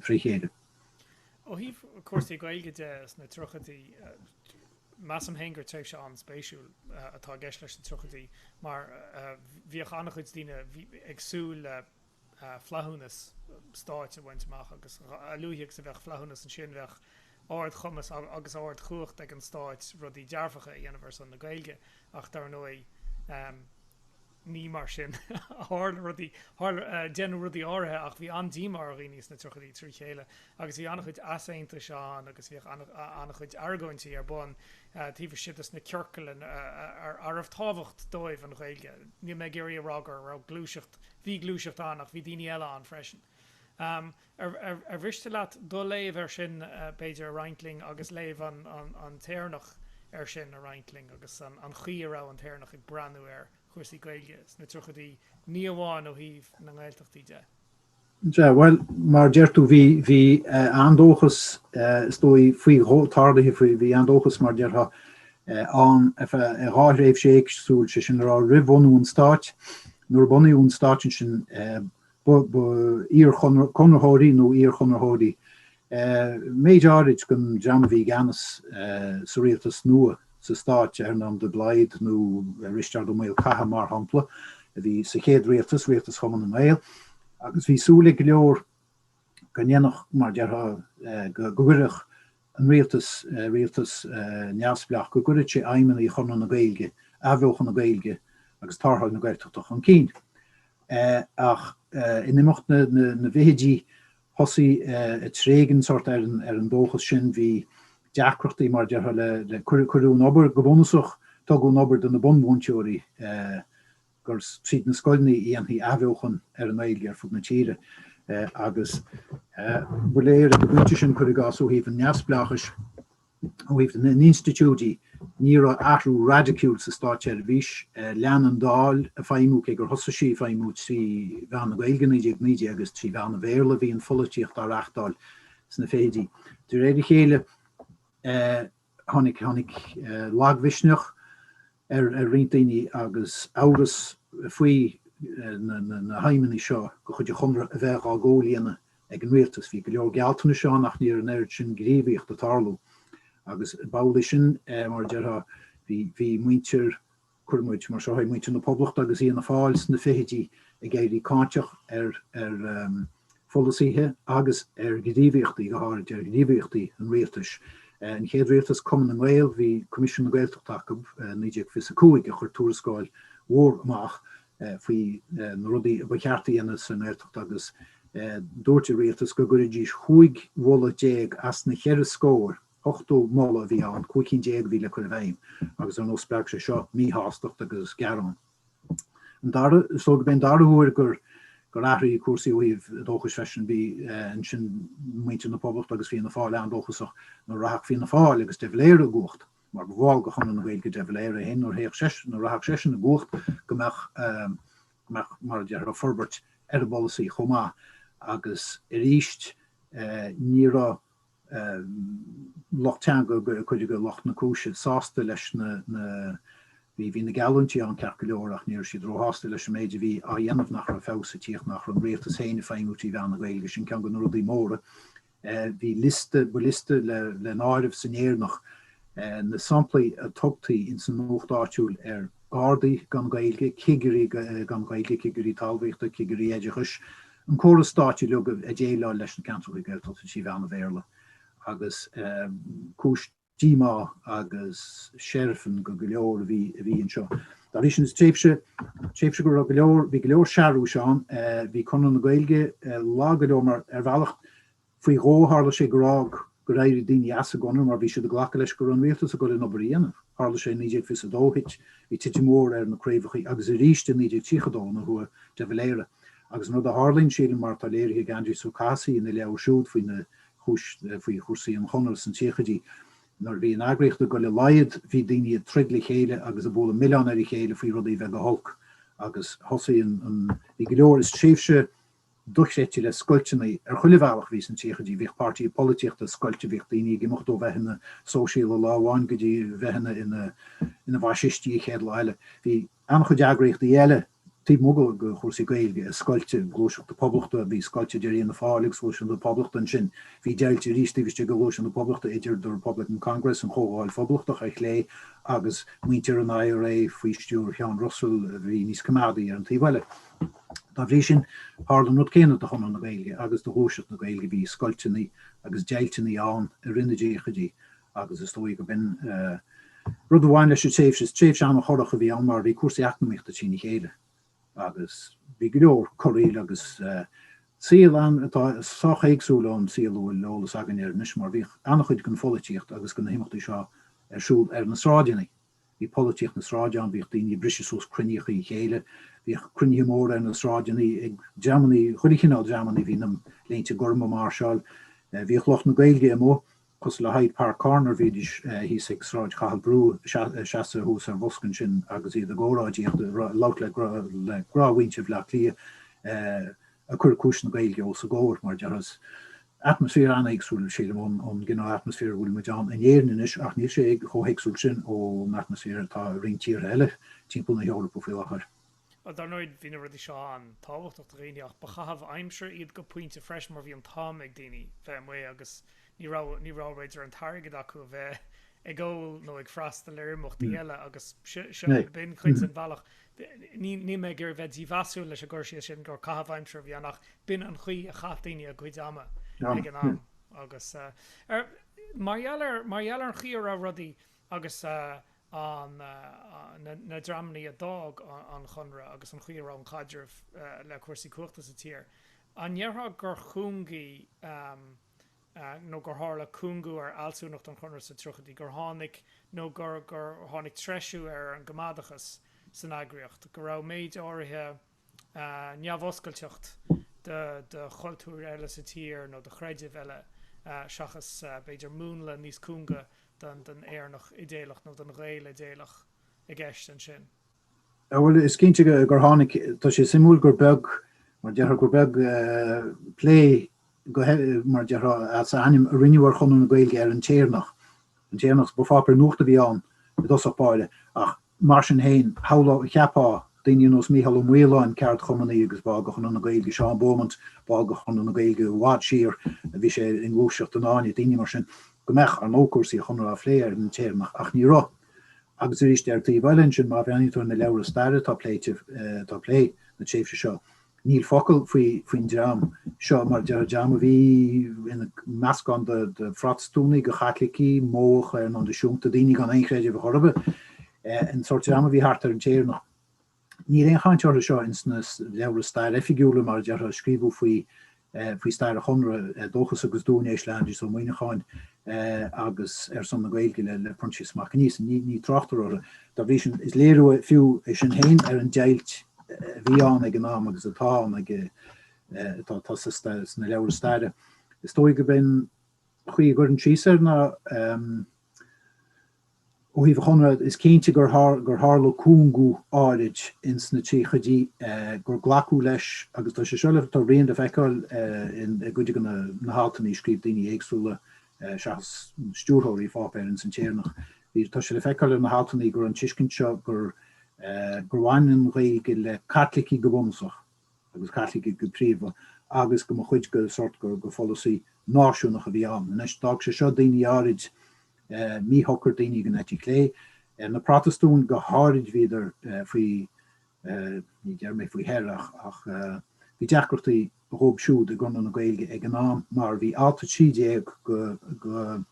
fré chéile. Ó thaobh cúrsaí Gaeilge de sna tríochaidí, Measaim fhéin gur tréimhse an-spéisiúil atá i gceist leis na tríochaidí mar bhíodh an-chuid daoine ag súil le flaithiúnas stáit a bhaint amach agus a luaithe agus a bheadh flaithiúnas ansin bheadh ardchumas agus ardchumhacht ag an stát rudaí dearfacha a dhéanamh ar son na Gaeilge ach dar ndóigh ní mar sin a tharla rudaí, tharla, deineadh rudaí áirithe ach bhí an-díomá ar dhaoine sna tríochaidí trí chéile agus bhí an-chuid easaontais ann agus bhíodh an-chuid argóintí ar bun taobh istigh de na ciorcail a raibh tábhacht dóibh an Ghaeilge. Níl mé ag iarraidh a rá go raibh gluaiseacht, bhí gluaiseacht ann ach bhí daoine eile ann freisin. Ar mhiste leat do léamh air sin b'fhéidir a roinnt linn agus léamh an tÉireannach air sin a roinnt linn agus an chaoi a raibh an tÉireannach ag breathnú ar chúrsaí Gaeilge sna tríochaidí ní amháin ó thaobh na nGaeltachtaí de? Sea, bhuel, mar a deir tú, bhí, bhí eh, an-dóchas, eh, is dóigh, faoi tarlaithe faoi, bhí an-dóchas, mar a déarfá, eh, ann ar feadh eh, dhá thréimhse éagsúil, is é sin a rá roimh bhunú an stáit, nuair a bunaíodh an stáit ansin, eh, iar-chonraitheoirí nó iar-chonraitheoirí méid áirid don dream a bhí i gceannas sa rialtas nua sa stát, Earnán de Blaghd nó Risteard Ó Maolchatha mar shampla, a bhí sa chéad rialtas, rialtas Chumann na nGaedheal, agus bhí súil ag go leor go ndéanfadh, mar a déarfá, go gcuirfeadh an rialtas, rialtas neamhspleách, go gcuirfeadh sé aidhmeanna Chonradh na Gaeilge, athbheochan na Gaeilge agus tarrtháil na Gaeltachta chun cinn. Ach in imeacht na bhfichidí thosaigh ag tréigean sórt ar an dóchas sin, bhí deacrachtaí mar a déarfá le, cuireadh an obair, go bunúsach tugadh an obair do na bunmhúinteoirí, gur iad na scoileanna a dhéanfadh athbheochan ar an nGaeilge ar fud na tíre agus ba léir ag an bpointe sin, cuir i gcás, ó thaobh an neamhspleáchais, ó thaobh na n-institiúidí, ní raibh athrú raidiciúil sa státseirbhís. Lean an Dáil ag feidhmiú, cé gur thosaigh sí ag feidhmiú trí mheán na Gaeilge i 1919 is trí mheán an Bhéarla a bhí an pholaitíocht á reáchtáil sna fichidí. De réir a chéile tháinig lagmhisneach. ar roinnt daoine agus amhras faoi na haidhmeanna seo de chuid an chonartha a bheith á gcomhlíonadh ag an rialtas. Bhí go leor gealltanais ann ach ní raibh an oiread sin gníomhaíocht ag tarlú agus b'amhlaidh sin mar a déarfá bhí muintir, cuirfidh muid mar seo é, muintir na Poblachta agus Fhianna Fáil sna fichidí ag éirí cáinteach ar pholasaithe agus ar ghníomhaíochtaí, go háirid ar ghníomhaíochtaí an rialtais. An chéad rialtas Cumann na nGael bhí Coimisiún na Gaeltachta acu, 1925, a chuir tuarascáil mhór amach faoi na rudaí a ba cheart a dhéanamh sa nGaeltacht agus dúirt an rialtas go gcuirfidís cúig mholadh déag as na ceithre scór, ochtó moladh a bhí ann, cúig cinn déag a bhí le cur i bhfeidhm agus ar ndóigh spreag sé seo míshástacht agus gearáin. Is dóigh gurb é an dara huair gur athraigh cúrsaí ó thaobh dóchais freisin. Bhí ansin muintir na Poblacht agus Fianna Fáil an-dóchasach nuair a rachadh Fianna Fáil agus de Valera i gcumhacht, mar ba bhall de Chonradh na Gaeilge de Valera é féin nuair a rachadh seisean i gcumhacht go mbeadh, mar a déarfá, forbairt ar an bpolasaí chomh maith. Agus arís ní raibh lucht teanga go cuid de lucht na cúise sásta leis na bhí bhí na geallúintí ann ceart go leor ach ní raibh siad róshásta leis an méid a bhí á dhéanamh nach raibh feabhas ag tíocht nach raibh an rialtas féin ag feidhmiú trí mheán na Gaeilge sin ceann de na rudaí móra bhí liosta ba liosta le le n-áireamh san Éireannach na samplaí a thugtaí ins an nuacht áitiúil ar Ghardaí gan Gaeilge cigirí gan Gaeilge cigirí talmhaíochta cigirí oideachais an córas stáit uilig ag déileáil leis na ceantracha Gaeltachta trí mheán an Bhéarla agus cúis díomá agus seirfin go go leor a bhí anseo. Dá bhrí sin is tréimhse tréimhse go raibh go leor bhí go leor searbhais ann, bhí Conradh na Gaeilge lag go leor mar ar bhealach Faoi dhó, tharla sé go raibh, gur éirigh daoine as an gConradh mar bhí siad ag glacadh leis go raibh an rialtas ag dul an obair a dhéanamh. Tharla sé i 1922, thit, bhí titim mhór ar na craobhacha agus arís i 1932 nuair a chuaigh de Valera. Agus an rud a tharlaíonn, sílim, mar atá léirithe ag Aindrias Ó Cathasaigh ina leabhar siúd faoi na, faoi chúrsaí an chonartha san tríochaidí, nuair a bhí an eagraíocht ag dul i laghad, bhí daoine ag troid le chéile agus ag bualadh milleáin ar a chéile faoi rudaí a bheith go holc agus thosaigh an, bhí go leor, is tréimhse dochreidte le scoilteanna ar chuile bhealach a bhí sna tríochaidí, bhíodh páirtithe polaitíochta scoilte, bhíodh daoine ag imeacht ó bheith ina sóisialaigh lá amháin go dtí bheith ina bhfaisistí an chéad lá eile, bhí an-chuid eagraíochtaí eile taobh amuigh de chúrsaí Gaeilge scoilte, Gluaiseacht na Poblachta a bhí scoilte idir Fhianna Fáil agus Gluaiseacht na Poblachta ansin, bhí deighilt arís taobh istigh de Ghluaiseacht na Poblachta idir The Republican Congress, an Chomhdháil Phoblachtach ar chlé, agus muintir an IRA faoi stiúir Sheáin Russell a bhí níos coimeádaí ar an taobh eile. Dá bhrí sin, tharla an rud céanna do Chonradh na Gaeilge agus do ghluaiseacht na Gaeilge, bhí scoilteanna agus deighlteanna ann i rith na dtríochaidí agus is dóigh go b'in rud a bhain leis an tréimhse. Is tréimhse an-chorrach a bhí ann mar bhí cúrsaí eacnamaíochta trína chéile agus bhí go leor corraíl agus saol ann atá sách éagsúil ón saol a bhfuil eolas againn air anois mar bhíodh an-chuid den pholaitíocht agus de na himeachtaí seo ar siúl ar na sráideanna. Bhí polaitíocht na sráide ann, bhíodh daoine ag briseadh suas cruinníocha a chéile, bhíodh cruinnithe móra ar na sráideanna ag dreamanna, chuile chineál dreamanna, bhí na Léinte Gorma ag máirseáil, bhíodh lucht na Gaeilge amuigh, cosúil le Hyde Park Corner, bhídís thíos ag Sráid Chathail Brú, seasamh thuas ar bhosca ansin agus iad ag óráidíocht, ag labhairt le gnáthmhuintir Bhleá Cliath, ag cur cúis na Gaeilge os a gcomhair, mar a déarfá. Atmaisféar an-éagsúil, sílim, ón gcineál atmaisféar a bhfuil muid ann in Éirinn anois ach níl sé chomh héagsúil sin ón atmaisféar atá i roinnt tíortha eile timpeall na hEorpa faoi láthair. Bhuel, dar ndóigh, bhí na rudaí seo an-tábhachtach do dhaoine ach ba chaitheamh aimsire iad go pointe freisin mar bhí an t-am ag daoine bheith amuigh agus ní raibh, ní raibh, b'fhéidir, an t-airgead acu a bheith ag ól nó ag freastal ar imeachtaí eile agus b'in ceann den bhealach. Níl mé ag iarraidh bheith dímheasúil leis an gcur síos sin gur caitheamh aimsire a bhí ann ach b'in an chaoi a chaith daoine a gcuid ama ag an am agus mar gheall ar mar gheall ar an chaoi a raibh rudaí agus na dreamanna a d'fhág an Conradh agus an chaoi a raibh an caidreamh le cúrsaí cumhachta sa tír, an ndéarfá gur chúngaigh nó gur tharla cúngú ar fhealsúnacht an Chonartha sna tríochaidí, gur tháinig nó gur gur tháinig treisiú ar an gcoimeádachas san eagraíocht, go raibh méid áirithe neamhoscailteacht do do chultúir eile sa tír nó do chreidimh eile seachas, b'fhéidir, múnla níos cúnga den Éireannach idéalach nó den Ghael idéalach i gceist ansin. Ó bhuel, is cinnte gur tháinig, tá sé suimiúil gur beag, mar a déarfá, gur beag plé, mar a déarfá, as a ainm a rinneadh ar Chonradh na Gaeilge ar an tÉireannach. An tÉireannach, is ba pháipéar nuaíochta a bhí ann i dtosach báire, ach mar sin féin, shamhlódh a cheapfá daoine ar nós Mícheál Ó Maoláin, ceardchumannaí agus ball de Chonradh na Gaeilge, Seán Beaumont, ball de Chonradh na Gaeilge i bhfad siar, a bhí sé i ngluaiseacht an Fháinne, daoine mar sin, go mbeadh, ar ndóigh, cúrsaí an Chonartha á phlé ar an tÉireannach, ach ní raibh. Agus arís ar taobh eile ansin má bhreathnaíonn tú ar na leabhra staire atá ag plé atá ag plé na tréimhse seo, níl focal faoi faoin dream seo mar déarfá dream a bhí ina meascán de Phrotastúnaigh go Chaitlicigh, Modhacha ar nós na siúnta, daoine gan aon chreideamh a chor ar bith, an sórt dream a bhí thart ar an tÉireannach. Níl aon chaint orthu seo ins na leabhra staire oifigiúla, mar a déarfá, a scríobhadh faoi eh, faoi stair an Chonradh, eh, Dóchas agus Duainéis le Aindrias Ó Muimhneacháin eh, agus Ar son na Gaeilge le le Proinsias Mac Aonghusa. Ní, ní tráchtar orthu. Dá bhrí sin is léiriú fiú é sin féin ar an deighilt eh, a bhí ann ag an am agus atá ann ag eh, eh, atá atá sa sta- sna leabhra staire. Is dóigh gurb é an chaoi a gcuirfinn síos ar na ehm, Ó thaobh an Chonradh, is cinnte gur tharla cúngú áirid ins na tríochaidí gur glacadh leis agus tá sé seo le tá a rian le feiceáil i gcuid de na haltanna a scríobh daoine éagsúla seachas stiúrthóirí an pháipéir ins An tÉireannach. Bhí, tá sé le feiceáil ar na haltanna go raibh an tuiscint seo gur bhain an Ghaeilge le Caitlicigh go bunúsach, agus Caitlicigh go príomha, agus go mba chuid de sórt gur gur pholasaí náisiúnach a bhí ann. Anois, d'fhág sé seo daoine áirid míshocair, daoine den eite chlé. Na Protastúin go háirid bhíodar faoi ní déarfaidh mé faoi their ach ach bhí deacrachtaí dhóibh siúd i gConradh na Gaeilge ag an am mar bhí Alt 13 de de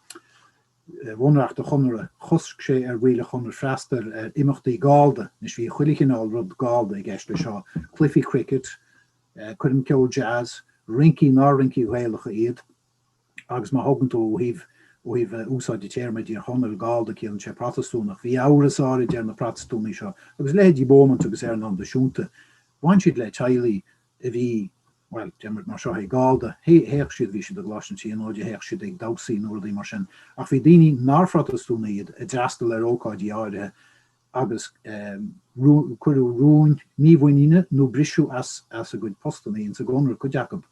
Bhunreacht an Chonartha, chosc sé ar bhaill an Chonartha freastal ar imeachtaí Gallda. Anois bhí chuile chineál rud Gallda i gceist leis seo, cluichí cricket, coirm ceol jazz, rincí nár rincí Ghaelacha iad agus má thógann tú ó thaobh, ó thaobh úsáid an téarma i dTír Chonaill, Gallda ciallaíonn sé Protastúnach. Bhí amhras áirid ar na Protastúnaigh seo agus leithéidí Beaumont agus Earnán de Siúnta, bhain siad le teaghlaigh a bhí, bhuel, déarfaimid mar seo, Gallda, théadh siad, bhí siad ag gluaiseacht an tí, nó de théadh siad ag damhsaí nó rudaí mar sin, ach bhí daoine nár Phrotastúnaigh iad a d'fhreastail ar ócáidí áirithe agus cuireadh rúin mímhuiníne nó briseadh as as a gcuid postanna ins an gConradh cuid acu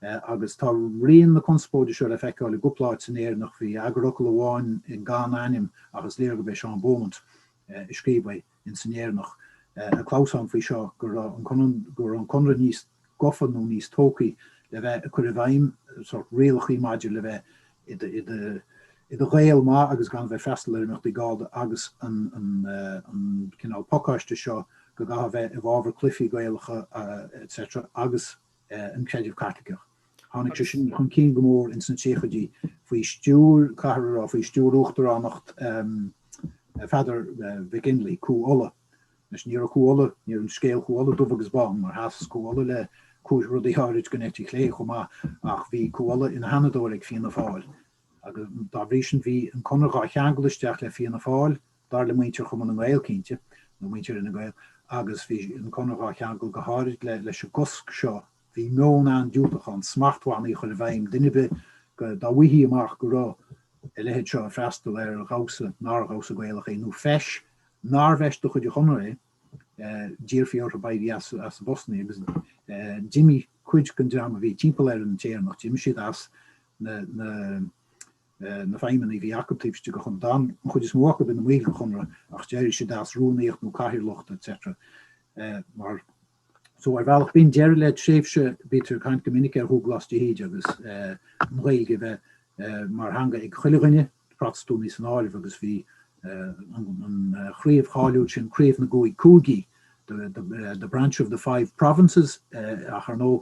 agus tá rian na conspóide seo le feiceáil i gcúpla áit san Éireannach. Bhí eagarfhocal amháin gan ainm ach is léir gurb é Seán Beaumont a scríobh é. in san Éireannach ag clamhsán faoi seo go raibh an Conradh níos gafa nó níos tógthaí le bheith ag cur i bhfeidhm sórt rialachaí maidir le bheith i do Ghael maith agus gan bheith ag freastal ar imeachtaí Gallda agus an cineál pacáiste seo go gcaithfeá bheith i bhfabhar cluichí Gaelacha etc agus an Creideamh Caitliceach. Tháinig sé sin chun cinn go mór ins na tríochaidí faoi stiúir, caithfear a rá, faoi stiúir uachtaránacht Pheadair Mhic Fhionnlaoich, Cú Uladh. Anois, ní raibh Cú Uladh, ní raibh an scéal Cú Uladh dubh agus bán, mar sheas Cú Uladh le rudaí áirid den eite chlé chomh maith, ach bhí Cú Uladh ina sheanadóir ag Fianna Fáil agus dá bhrí sin bhí an Conradh dhá cheangal isteach le Fianna Fáil Dar le muintir Chumann na nGael cinnte, nó muintir Fhine Gael, agus bhí an Conradh á cheangal go háirid leis an gcosc seo, bhí meon an-diúltach ann smachtbhannaí a chur i bhfeidhm, duine ar bith dá bhfaighfí amach go raibh a leithéid seo ag freastal ar dhamhsa nár dhamhsa Gaelach é, nó feis nárbh fheis de chuid an Chonartha é, d'iarrfaí orthu éirí as a bpostanna agus d'imigh cuid den dream a bhí timpeall ar an tÉireannach, d'imigh siad as na. na feidhmeannaí a bhí acu taobh istigh de Chonradh. D'fhan an chuid is mó acu ina mbaill den Chonradh ach d'éirigh siad as, rúnaíocht nó cathaoirleacht etc. So ar bhealach b'in deireadh le tréimhse, bítear ag caint go minic ar Dhubhghlas de hÍde agus an Ghaeilge a bheith mar theanga ag chuile dhuine, Protastúnaigh san áireamh agus bhí an chraobh cháiliúil sin, Craobh na gCúig Cúigí, the branch of the five provinces ach ar ndóigh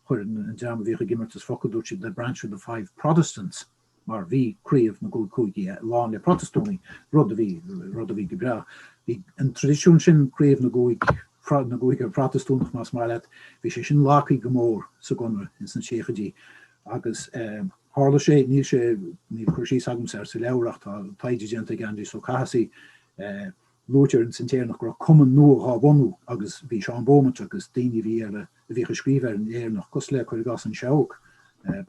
Chuir an dream a bhíodh ag imeartas focal, dúirt siad 'the branch of the five Protestants' mar bhí craobh na gcúig cúigí lán le Protastúnaigh, rud a bhí, rud a bhí go breá. Bhí an traidisiún sin, craobh na gcúig, na gcúigear Protastúnach más maith leat, bhí sé sin lagthaí go mór sa gConradh ins na tríochaidí agus tharla sé, níl sé, níl cur síos agamsa air sa leabhar ach tá taighde déanta ag Aindrias Ó Cathasaigh Luaitear ins an tÉireannach go raibh cumann nua dhá bhunú agus bhí Seán Beaumont agus daoine a bhí a bhíodh ag scríobh ar an Éireannach, cosúil le, cuir i gcás, An Seabhac,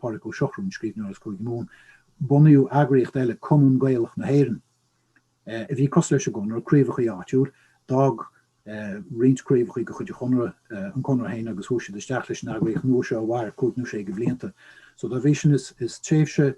Pádraig Ó Siochfhradha, an scríbhneoir as Cúige Mumhan. Bunaíodh eagraíocht eile, Cumann Gaelach na hÉireann, a bhí cosúil leis an gConradh, craobhachaí áitiúil. D'fhág roinnt craobhachaí de chuid an Chonradh an Conradh féin agus chuaigh siad isteach leis an eagraíocht nua seo a mhair cúig nó sé de bhlianta. So dá bhrí sin is tréimhse,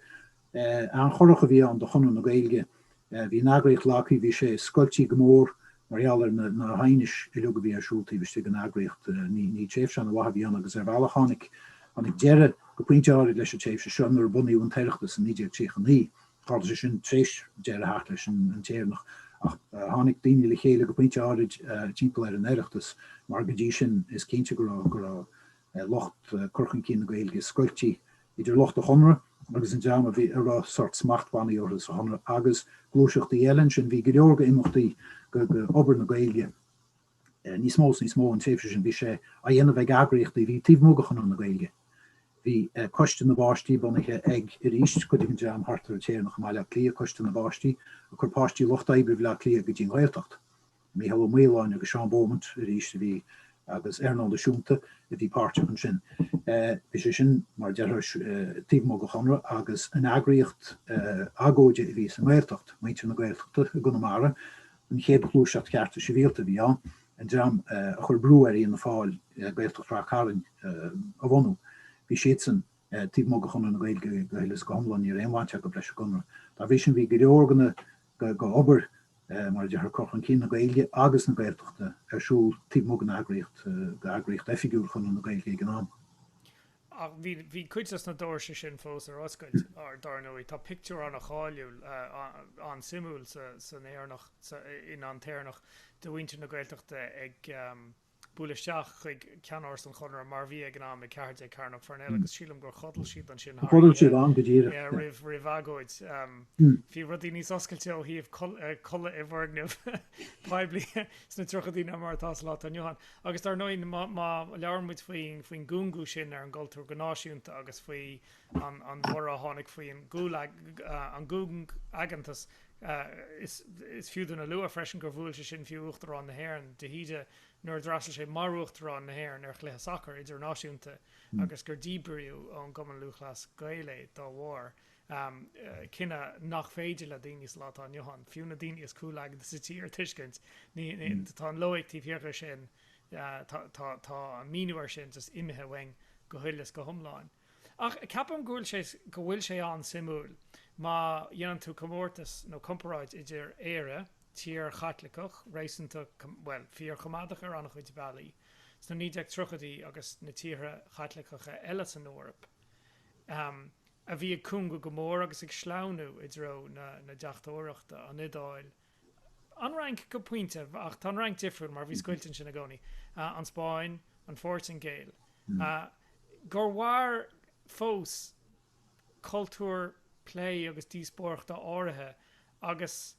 an-chorrach a bhí ann do Chonradh na Gaeilge. Bhí an eagraíocht lagthaí, bhí sé scoiltí go mór mar gheall ar na na haighnis uiliug a bhí ar siúl taobh istigh den eagraíocht. Ní ní tréimhse an-mhaith a bhí ann agus ar bhealach tháinig tháinig deireadh go pointe áirid leis an tréimhse seo nuair a bunaíodh an tOireachtas i 1939. Tharla sé sin tréis deireadh a theacht leis an an tÉireannach ach tháinig daoine le chéile go pointe áirid timpeall ar an Oireachtas mar go dtí sin is cinnte go raibh go raibh lucht cur chun cinn na Gaeilge scoiltí idir lucht an Chonradh agus an dream a bhí a raibh sórt smachtbhannaí orthu sa Chonradh agus gluaiseachtaí eile ansin. Bhí go leor go imeachtaí go obair na Gaeilge níos mó is níos mó an tréimhse sin. Bhí sé á dhéanamh ag eagraíochtaí a bhí taobh amuigh de Chonradh na Gaeilge. Bhí Coiste na bPáistí bunaithe ag, arís, cuid den dream thart ar an tÉireannach i mBaile Átha Cliath, Coiste na bPáistí ag cur páistí lucht oibre Bhaile Átha Cliath go dtí an Ghaeltacht. Mícheál Ó Maoláin agus Seán Beaumont arís a bhí agus Earnán de Siúnta a bhí páirteach ansin. Bhí sé sin, mar a déarfá, taobh amuigh den Chonradh agus an eagraíocht agóide a bhí sa nGaeltacht, Muintir na Gaeltachta i gConamara, an chéad ghluaiseacht Chearta Sibhialta a bhí ann, an dream a chuir brú ar Fhianna Fáil Gaeltacht Ráth Cairn a bhunú. Bhí siadsan taobh amuigh de Chonradh na Gaeilge go huile is go hiomlán, ní raibh aon bhaint acu leis an gConradh. Dá bhrí sin bhí go leor de na. Go raibh obair, mar a déarfá, cur chun cinn na Gaeilge agus na Gaeltachta ar siúl taobh amuigh den eagraíocht, d'eagraíocht oifigiúil Chonradh na Gaeilge ag an am. Ach bhí cuid de na doirse sin fós ar oscailt ar, dar ndóigh. Tá pictiúr an-cháiliúil, an-suimiúil san Éireannach, in An t-Éireannach, de mhuintir na Gaeltachta ag. bualadh isteach chuig ceannáras an Chonartha mar bhí ag an am, i ceathair déag Cearnóg Pharnell agus sílim gur chodail siad ansin thar oíche. Chodail siad ann go díreach. Yeah roimh roimh agóid. Bhí rudaí níos oscailte ó thaobh codladh i bhfoirgnimh poiblí sna tríochaidí ná mar atá sa lá atá inniu ann. Agus dar ndóigh má má labhair muid faoin faoin gcúngú sin ar an gcultúr go náisiúnta agus faoi an an borradh a tháinig faoi an gcúng an gcúngaigeantas, Is fiú dúinn a lua freisin gur bhuail sé sin fiú Uachtarán na hÉireann, de hÍde, nuair a d'fhreastail sé mar Uachtarán na hÉireann ar chluiche sacair idirnáisiúnta agus gur díbríodh ón gCumann Lúthchleas Gael é dá bharr, cinneadh nach féidir le daoine sa lá atá inniu ann, fiú na daoine is cúngaigeanta sa tír a thuiscint. Tá an loighic taobh thiar de sin, tá an míniú air sin just imithe uainn go huile is go hiomlán. Ach ceapaim go bhfuil sé, go bhfuil sé an-suimiúil má dhéanann tú comórtas nó comparáid idir Éire, tír Chaitliceach, réasúnta, bhuel, fíor-choimeádach ar an-chuid bealaí, sna 1930idí agus na tíortha Caitliceacha eile san Eoraip, ahem, a bhí ag cúngú go mór agus ag sleamhnú i dtreo na deachtóireachta, an Iodáil, An Fhrainc go pointe ach tá an Fhrainc difriúil mar bhí scoilt ansin i gcónaí. An Spáinn, an Phortaingéil. gur mhair fós cultúr plé agus díospóireachta áirithe agus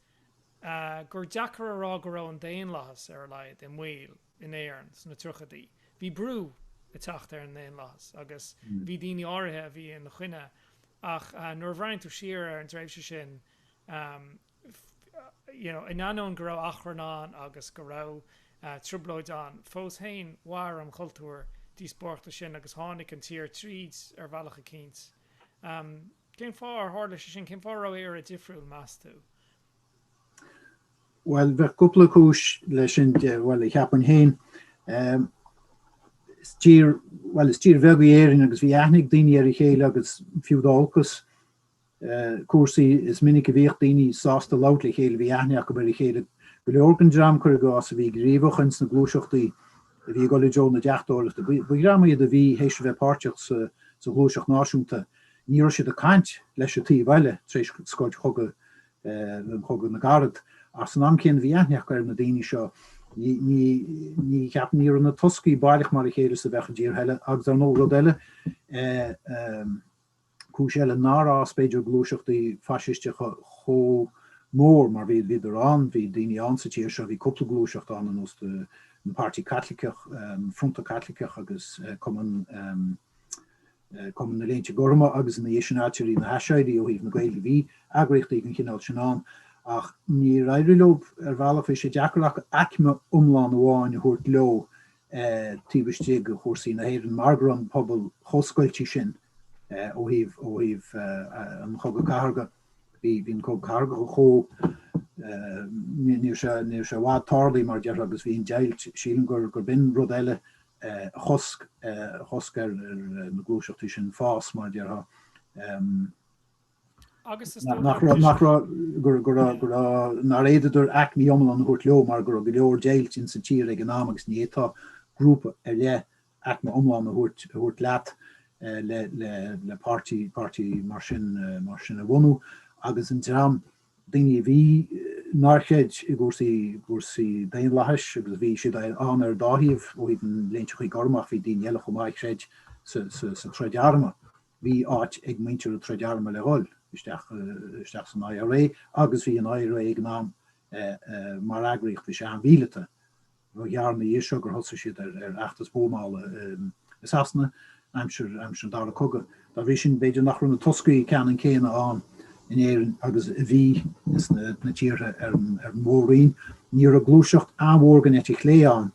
gur deacair a rá go raibh an daonlathas, ar a laghad, i mbaol in Éirinn sna tríochaidí. Bhí brú ag teacht ar an ndaonlathas agus bhí daoine áirithe a bhí ina choinne ach nuair a bhreathnaíonn tú siar ar an tréimhse sin, In ainneoin go raibh achrann ann agus go raibh trioblóid ann, fós féin mhair an cultúr díospóireachta sin agus tháinig an tír tríd ar bhealach eicínt. Cén fáth ar tharla sé sin? Cén fáth a raibh Éire difriúil, meas tú? Bhuel, bheadh cúpla cúis leis sin, bhuel, cheapfainn féin, is tír, bhuel, is tír bheag í Éirinn agus bhí aithne ag daoine ar a chéile agus fiú dá olcas, cúrsaí is minic a bhíodh daoine sásta labhairt le chéile, bhí aithne acu ar a chéile, go leor den dream, cuir i gcás, a bhí gníomhach ins na gluaiseachtaí a bhí ag dul i dtreo na deachtóireachta, ba dhream iad a bhí théis a bheith páirteach sa ghluaiseacht náisiúnta, ní raibh siad ag caint leis an taobh eile tar éis scoilt Chogadh Chogadh na gCarad ach san am céanna bhí aithne acu ar na daoine seo. Ní, ceapaim, ní raibh na toscaí baileach mar a chéile is a bheadh i dtíortha eile agus ar ndóigh rud eile, Cúis eile nár fhás b'fhéidir gluaiseachtaí faisisteacha chomh mór mar bhí, bhíodar ann, bhí daoine ann sa tír seo, bhí cúpla gluaiseacht ann, ar ndóigh, an Páirtí Caitliceach, Fronta Caitliceach agus Cumann, Cumann na Léinte Gorma agus ina dhiaidh sin Ailtirí na hAiséirghe ó thaobh na Gaeilge, bhí eagraíochtaí den chineál sin ann ach níor éirigh leo ar bhealach, bhí sé deacair acu aicme iomlán amháin a thabhairt leo taobh istigh de chúrsaí na hÉireann mar go raibh an pobal chomh scoilte sin ó thaobh an chogaidh chathartha. Bhí an cogadh cathartha chomh, ní raibh sé i bhfad tarlaithe mar a déarfá agus bhí an deighilt, sílim gur b'in rud eile a chosc, a chosc ar na gluaiseachtaí sin fás mar a déarfá. ach go raibh, go raibh nár fhéadadar aicmí iomlán a thabhairt leo mar go raibh go leor deighilt ins an tír ag an am agus ní héasca grúpa ar leith aicme iomlán a thabhairt leat le páirtí mar sin a bhunú agus an dream daoine a bhí nár chreid i gcúrsaí daonlathais agus bhí siad ann ar dá thaobh ó thaobh na léinte gorma ach bhí daoine eile chomh maith a chreid sa troid armtha. Bhí áit ag muintir an troid armtha le dhul isteach san IRA agus bhí an IRA ag an am mar eagraíocht, bhí sé an-mhíleata. Ba ghearr ina dhiaidh seo gur thosaigh siad ar fheachtas buamála i Sasana aimsir an dara cogadh. Dá bhrí sin b'fhéidir nach raibh na toscaí ceannann céanna ann in Éirinn agus a bhí sna tíortha ar an Mhór-Roinn. Ní raibh gluaiseacht an-mhór den eite chlé ann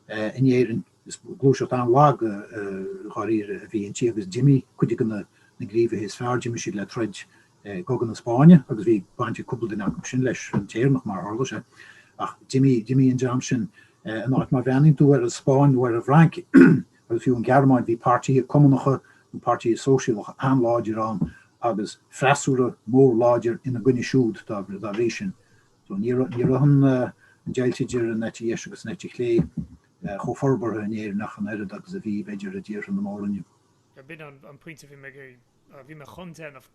in Éirinn. Is gluaiseacht an-lag i dháiríre a bhí inti agus d'imigh cuid de na gníomhaithe is fearr, d'imigh siad le troid i gCogadh na Spáinne agus bhí baint ag cúpla duine acu sin leis an tÉireannach mar a tharla sé. Ach d'imigh an dream sin in áit. Má bhreathnaíonn tú ar an Spáinn nó ar an bhFrainc, agus fiú an Ghearmáin, bhí páirtithe cumannacha nó páirtithe sóisialacha an-láidir ann agus freasúra mór láidir ina gcoinne siúd dá bhrí sin. So ní raibh an deighilt idir an eite dheis agus an eite chlé chomh forbartha in Éirinn ach an oiread agus a bhí, b'fhéidir, i dtíortha na Mór-Roinne. B'in an pointe a bhí mé ag iarraidh, bhí mé chun déanamh,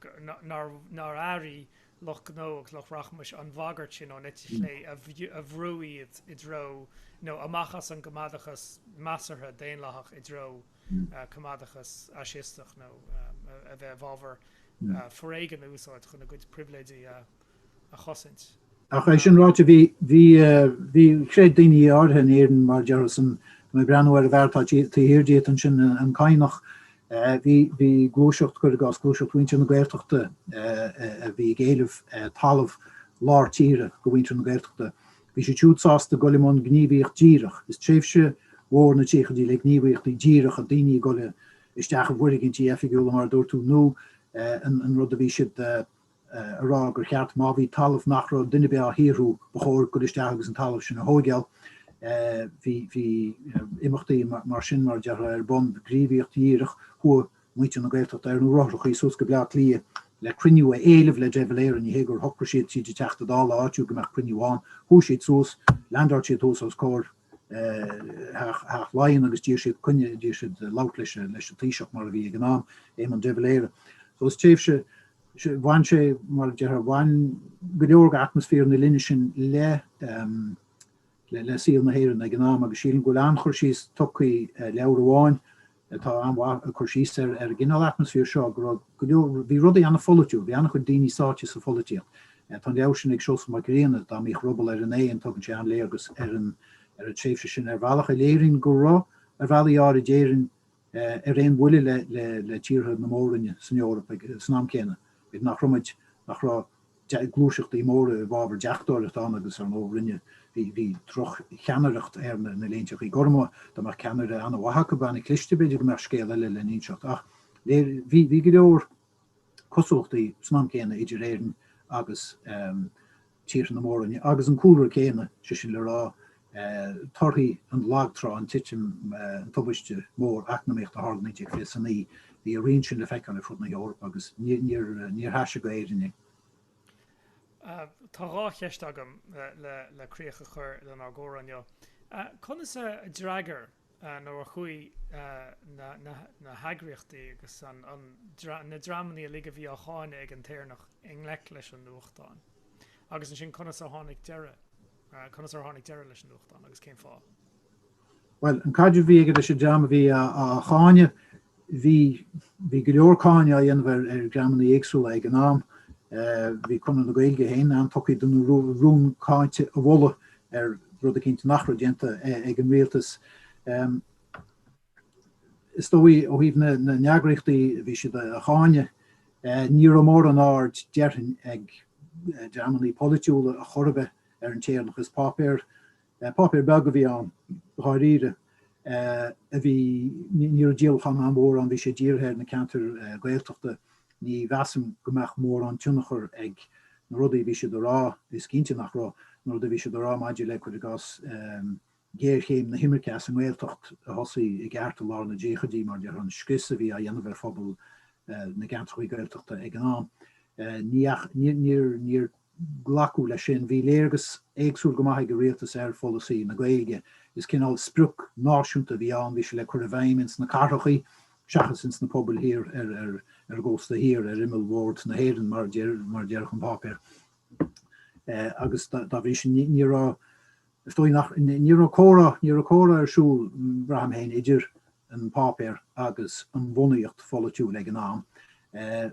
nár airigh lucht gnó agus lucht rachmais an bhagairt sin ón eite chlé a bhrú iad i dtreo, nó amach as an gcoimeádachas measartha daonlathach i dtreo coimeádachas fhaisisteach, nó a bheith i bhfabhar foréigean a úsáid chun a gcuid pribhléidí a a chosaint. Ach é sin ráite, bhí, chreid daoine áirithe in Éirinn mar a déarfá ansin, mé ag breathnú ar an bhfear atá taobh thiar díot ansin, an Cadhnach. Bhí gluaiseacht, cuir i gcás, gluaiseacht mhuintir na Gaeltachta a bhí ag éileamh talamh lár tíre go mhuintir na Gaeltachta. Bhí siad siúd sásta gol i mbun gníomhaíocht dhíreach. Is tréimhse mhór na tríochaidí le gníomhaíochtaí díreacha daoine ag gol isteach i bhfoirgintí oifigiúla, mar a dúirt tú, nó an rud a bhí siad a rá gur cheart má bhí talamh nach raibh duine ar bith á shaothrú ba chóir gol isteach agus an talamh sin a thóigeáil. Bhí imeachtaí mar sin, mar a déarfá, ar bun, gníomhaíocht dhíreach, chuaigh muintir na Gaeltachta ar na rothrachaí suas go Bleá Cliath le cruinniú a éileamh le De Valera, ní hé gur shocraigh siad tríd an Teachta Dála áitiúil go mbeadh cruinniú ann, chuaigh siad suas, leandáil siad thuas os comhair Theach Laighean agus d'iarr siad coinne, d'iarr siad labhairt leis an Taoiseach mar a bhí ag an am, Éamon de Valera. So is tréimhse, bhain sé, mar a déarfá, bhain go leor de atmaisféar na linne sin le le saol na hÉireann ag an am agus sílim go bhfuil an-chur síos tugtha i leabhar amháin atá an-mhaith ag cur síos ar an gcineál atmaisféir seo, go raibh go leor, bhí rudaí an-pholaitiúil, bhí an-chuid daoine sáite sa pholaitíocht. Tá an leabhar sin ag Seosamh Mac Grianna, Dá mBíodh Ruball ar an Éan, tugann sé an-léargas ar an tréimhse sin ar bhealach a léiríonn go raibh, ar bhealaí áirid, Éirinn ar aon bhuille le tíortha na Mór-Roinne san Eoraip ag an am céanna, nach raibh muid, nach raibh. gluaiseachtaí móra i bhfabhar deachtóireacht ann agus ar ndóigh rinne, bhí, bhí droch-cheannaireacht ar na, na Léinteachaí Gorma, dá mbeadh ceannaire an-mhaith acu, bheadh ana cliste, b'fhéidir go mbeadh scéal eile le n-inseacht ach léir, bhí, bhí go leor cosúlachtaí san am céanna idir Éirinn agus eh, Tíortha na Mór-Roinne agus an cúlra céanna, sé sin le rá, torthaí an lag trá, an titim, an tubaiste mór eacnamaíochta a tharla 1929, bhí a rian sin le feiceáil ar fud na hEorpa agus níor thaise go Éirinn é. Tá dhá cheist agam le críoch a chur lenár gcomhrá inniu. Conas a d'fhreagair. nó a chuaigh na heagraíochtaí agus na dreamanna uilig a bhí á cháineadh ag An tÉireannach i ngleic leis an nuachtán. Agus ansin, conas ar tháinig deireadh, conas ar tháinig deireadh leis an nuachtán agus cén fáth? Bhuel, an caidreamh a bhí aige leis an dream a bhí á cháineadh, Bhí go leor cáineadh á dhéanamh ar dhreamanna éagsúla ag an am. Bhí Conradh na Gaeilge féin an-tugtha don rún cáinte a mholadh ar rud eicínt nach raibh déanta ag an rialtas. Is dóigh ó thaobh na n-eagraíochtaí a bhí siad a cháineadh, ní raibh mórán aird déarfainn ag dreamanna polaitiúla ar chor ar bith ar An tÉireannach. Is páipéar Páipéar beag a bhí ann dháiríre a bhí, ní raibh díolachán an-mhór ann, bhí sé dírithe ar na ceantair Ghaeltachta, ní mheasaim go mbeadh mórán tionchar ag na rudaí a bhí sé a rá, is cinnte nach raibh, na rudaí a bhí sé a rá maidir le, cuir i gcás, géarchéim na himirce as an nGaeltacht a thosaigh i gceart i lár na ndaichidí mar gheall ar an scrios a bhí á dhéanamh ar phobal na gceantrachaí Gaeltachta ag an am. Níor. glacadh leis sin. Bhí léargas éagsúil go maith ag an rialtas ar pholasaí na Gaeilge. Is cineál sprioc náisiúnta a bhí ann, bhí sé le cur i bhfeidhm ins na cathrachaí seachas ins na pobail thiar ar an gcósta thiar, ar imeallbhord na hÉireann mar a déarfadh an páipéar. Agus dá bhrí sin ní raibh is dóigh nach, ní raibh comhrá, ní raibh comhrá ar siúl, braithim féin, idir an páipéar agus an bhunaíocht pholaitiúil ag an am.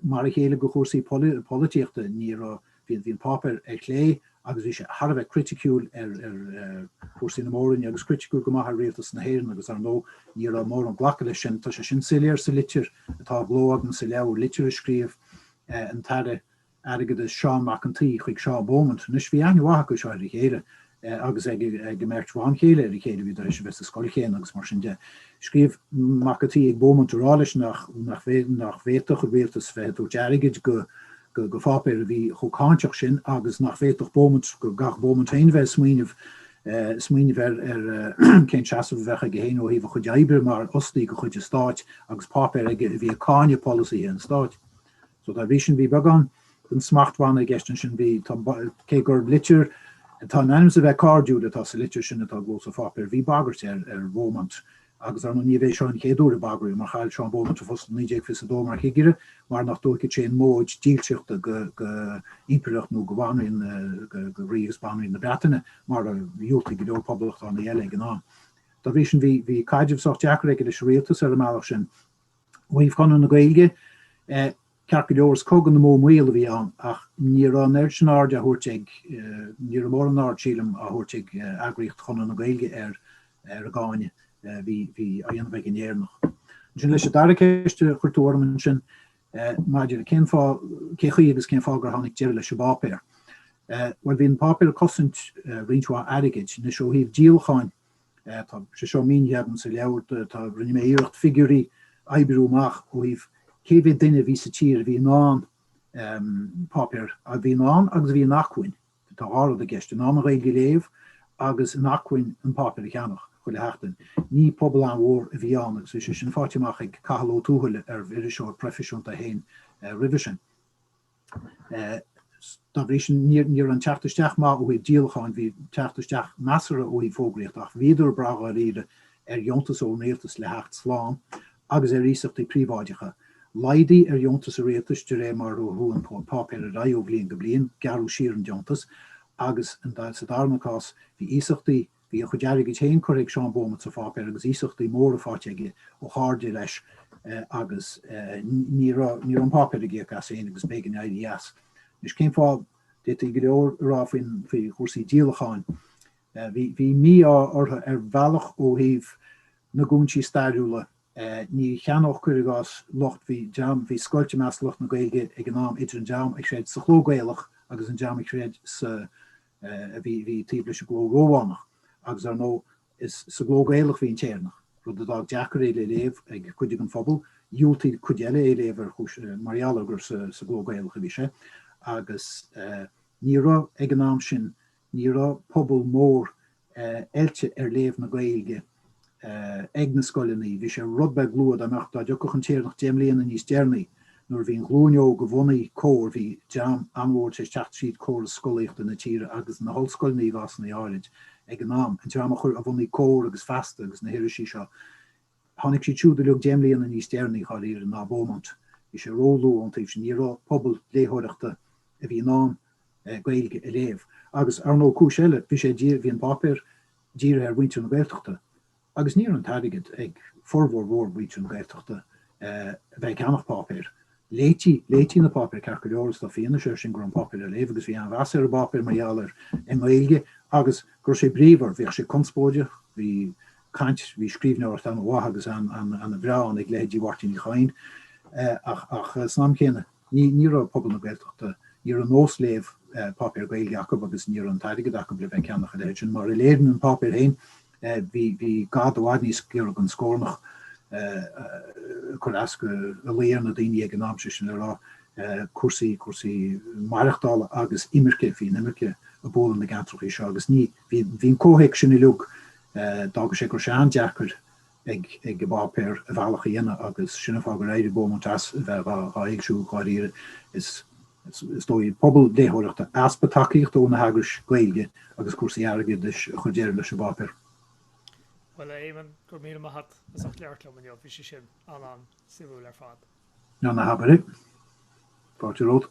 Mar a chéile go chúrsaí polaitíochta, ní raibh, bhí an páipéar ar chlé agus bhí sé thar a bheith criticiúil ar chúrsaí na Mór-Roinne agus criticiúil go maith ar Rialtas na hÉireann agus ar ndóigh ní raibh mórán glacadh leis sin. Tá sé sin soiléir sa litir atá i gcló agam sa leabhar, litir a scríobh an tAire airgeadais Seán Mac an tSaoi chuig Seán Beaumont. Anois, bhí aithne mhaith acu seo ar a chéile agus ag a mbeirt bhan chéile ar a chéile, bhí tar éis a bheith sa scoil chéanna agus mar sin de. Scríobh Mac a' tSaoi ag Beaumont a rá leis nach bhféadfadh an rialtas bheith ag tabhairt airgid go pháipéar a bhí chomh cáinteach sin agus nach bhféadfadh Beaumont, go gcaithfeadh Beaumont féin a bheith ag smaoineamh ar cén seasamh a bheadh aige féin ó thaobh a chuid oibre mar fhostaí de chuid an stáit agus páipéar aige a bhí ag cáineadh polasaithe an stáit. So dá bhrí sin bhí beagán den smachtbhanna i gceist ansin. Bhí, tá, cé gur litir atá in ainm is a bheith cairdiúil atá sa litir sin atá i gcló sa pháipéar, bhí bagairt air ar Beaumont agus ar ndóigh níorbh é seo an chéad uair a bagraíodh air mar chaill Seán Beaumont a phost in 1922 mar chigire mar nach dtógfadh sé an móid dílseachta go impireacht nó go bhanríon, go rí agus banríon na Breataine mar a dhiúltaigh go leor poblachtánaigh eile ag an am. Dá bhrí sin bhí, bhí caidreamh sách deacair aige leis an rialtas ar an mbealach sin. Ó thaobh Chonradh na Gaeilge, ceart go leor, is Cogadh na mBó Maol a bhí ann ach ní raibh an oiread sin airde á thabhairt ag, ní raibh mórán aird sílim á thabhairt ag eagraíocht Chonradh na Gaeilge ar an gcáineadh a bhí á dhéanamh ag an Éireannach. Ansin leis an dara ceist a chuir tú orm ansin maidir le cén fáth, cé chaoi agus cén fáth gur tháinig deireadh leis an bpáipéar. Bhuel bhí an páipéar ag cosaint roinnt mhaith airgid, anois ó thaobh díolacháin, Tá sé seo mínithe agam sa leabhar, tá rinne mé iarracht figiúirí oibriú amach ó thaobh cé mhéad duine a bhí sa tír a bhí in ann páipéar a bhí in ann agus a bhí in acmhainn, tá dhá rud i gceist, in ann an Ghaeilge a léamh agus in acmhainn an páipéar a cheannach chuile sheachtain. Ní pobal an-mhór a bhí ann agus bhí sé sin faighte amach ag Cathal Ó Tuathail arbh iriseoir proifisiúnta é féin roimhe sin. Dá bhrí sin ní raibh an teacht isteach maith uaidh díolacháin, bhí teacht isteach measartha uaidh fógraíocht ach bhíodar ag brath dháiríre ar dheontas ón rialtas le theacht slán agus ar iasachtaí príobháideacha. Laghdaigh ar dheontas an rialtais de réir mar a chuaigh an páipéar ar aghaidh ó bhliain go bliain, gearradh siar an deontas agus sa darna cás bhí iasachtaí Bhí a chuid airgid féin curtha ag Seán Beaumont sa pháipéar agus iasachtaí móra faighte aige ó chairde leis agus ní raibh an páipéar ag íoc as féin agus b'éigean éirí as. Anois cén fáth? D'fhéadfaí go leor a rá faoi chúrsaí díolacháin. Bhí mí-ádh orthu ar bhealach ó thaobh na gcúinsí stairiúla. Ní cheannódh cuir i gcás lucht, bhí dream, bhí scoilt i measc lucht na Gaeilge ag an am idir an dream a chreid sa chló Gaelach agus an dream a chreid sa a bhí taobh leis an gcló Rómhánach, agus ar ndóigh is sa gcló Gaelach a bhí An tÉireannach, rud a d'fhág deacair é le léamh ag cuid den phobal. Dhiúltaigh cuid eile é a léamh mar gheall ar gur sa gcló Gaelach a bhí sé, agus ní raibh, ag an am sin, ní raibh pobal mór oilte ar léamh na Gaeilge ag na scoileanna. Bhí sé rud beag luath dá mbeadh, dá dtiocfadh An tÉireannach deich mbliana níos deireanaí nuair a bhí an ghlúin óg a bhunaigh Comhar, bhí dream an-mhór tar éis teacht tríd córas scolaíochta na tíre agus na hollscoileanna i gcásanna áirid ag an am, an dream a chuir, a bhunaigh Comhar agus Feasta agus na hirisí seo. Tháinig siad siúd uilig deich mbliana níos deireanaí dháiríre ná Beaumont. Bhí sé róluath ón taobh sin, ní raibh pobal léitheoireachta a bhí in ann Gaeilge a léamh. Agus ar ndóigh cúis eile, bhí sé bhí an páipéar dírithe ar mhuintir na Gaeltachta agus ní raibh an t-airgead ag formhór mhór mhuintir na Gaeltachta a bheith ag ceannach páipéir. léití, léití na páipéir ceart go leor is tá fianaise air sin go raibh an páipéar á léamh agus bhí an-mheas ar an bpáipéar mar gheall ar an nGaeilge agus go raibh sé bríomhar, bhíodh sé conspóideach, bhí caint, bhí scríbhneoireacht an-mhaith agus an-bhreá ann ag leithéidí Mháirtín Uí Chadhain ach, ach san am chéanna ní, ní raibh pobal na Gaeltachta, ní raibh nós léamh páipéar Gaeilge acu agus ní raibh an t-airgead acu le bheith ag ceannach a leithéid sin mar a léiríonn an páipéar féin. Bhí gad i bhfad níos giorra don scornach ag cur as do, ag luí ar na daoine ag an am, sé sin le rá, cúrsaí, cúrsaí maireachtála agus imirce, bhí an imirce ag bualadh na gceantracha seo agus ní, bhí, bhí an comhthéacs sin uilig, d'fhága sé go raibh sé an-deacair ag, ag an bpáipéar a bhealach a dhéanamh agus sin an fáth gur éirigh Beaumont as a bheith dhá, dhá fhoilsiú dháiríre. Is. is dóigh, pobal léitheoireachta, easpa tacaíochta ó na heagrais Gaeilge agus cúrsaí airgeadais a chuir deireadh leis an bpáipéar. Bhuel a Éamonn, go raibh míle maith agat as ucht labhairt liom inniu, bhí sé sin an-an-suimiúil ar fad. Á ná habair é. Fáilte romhat.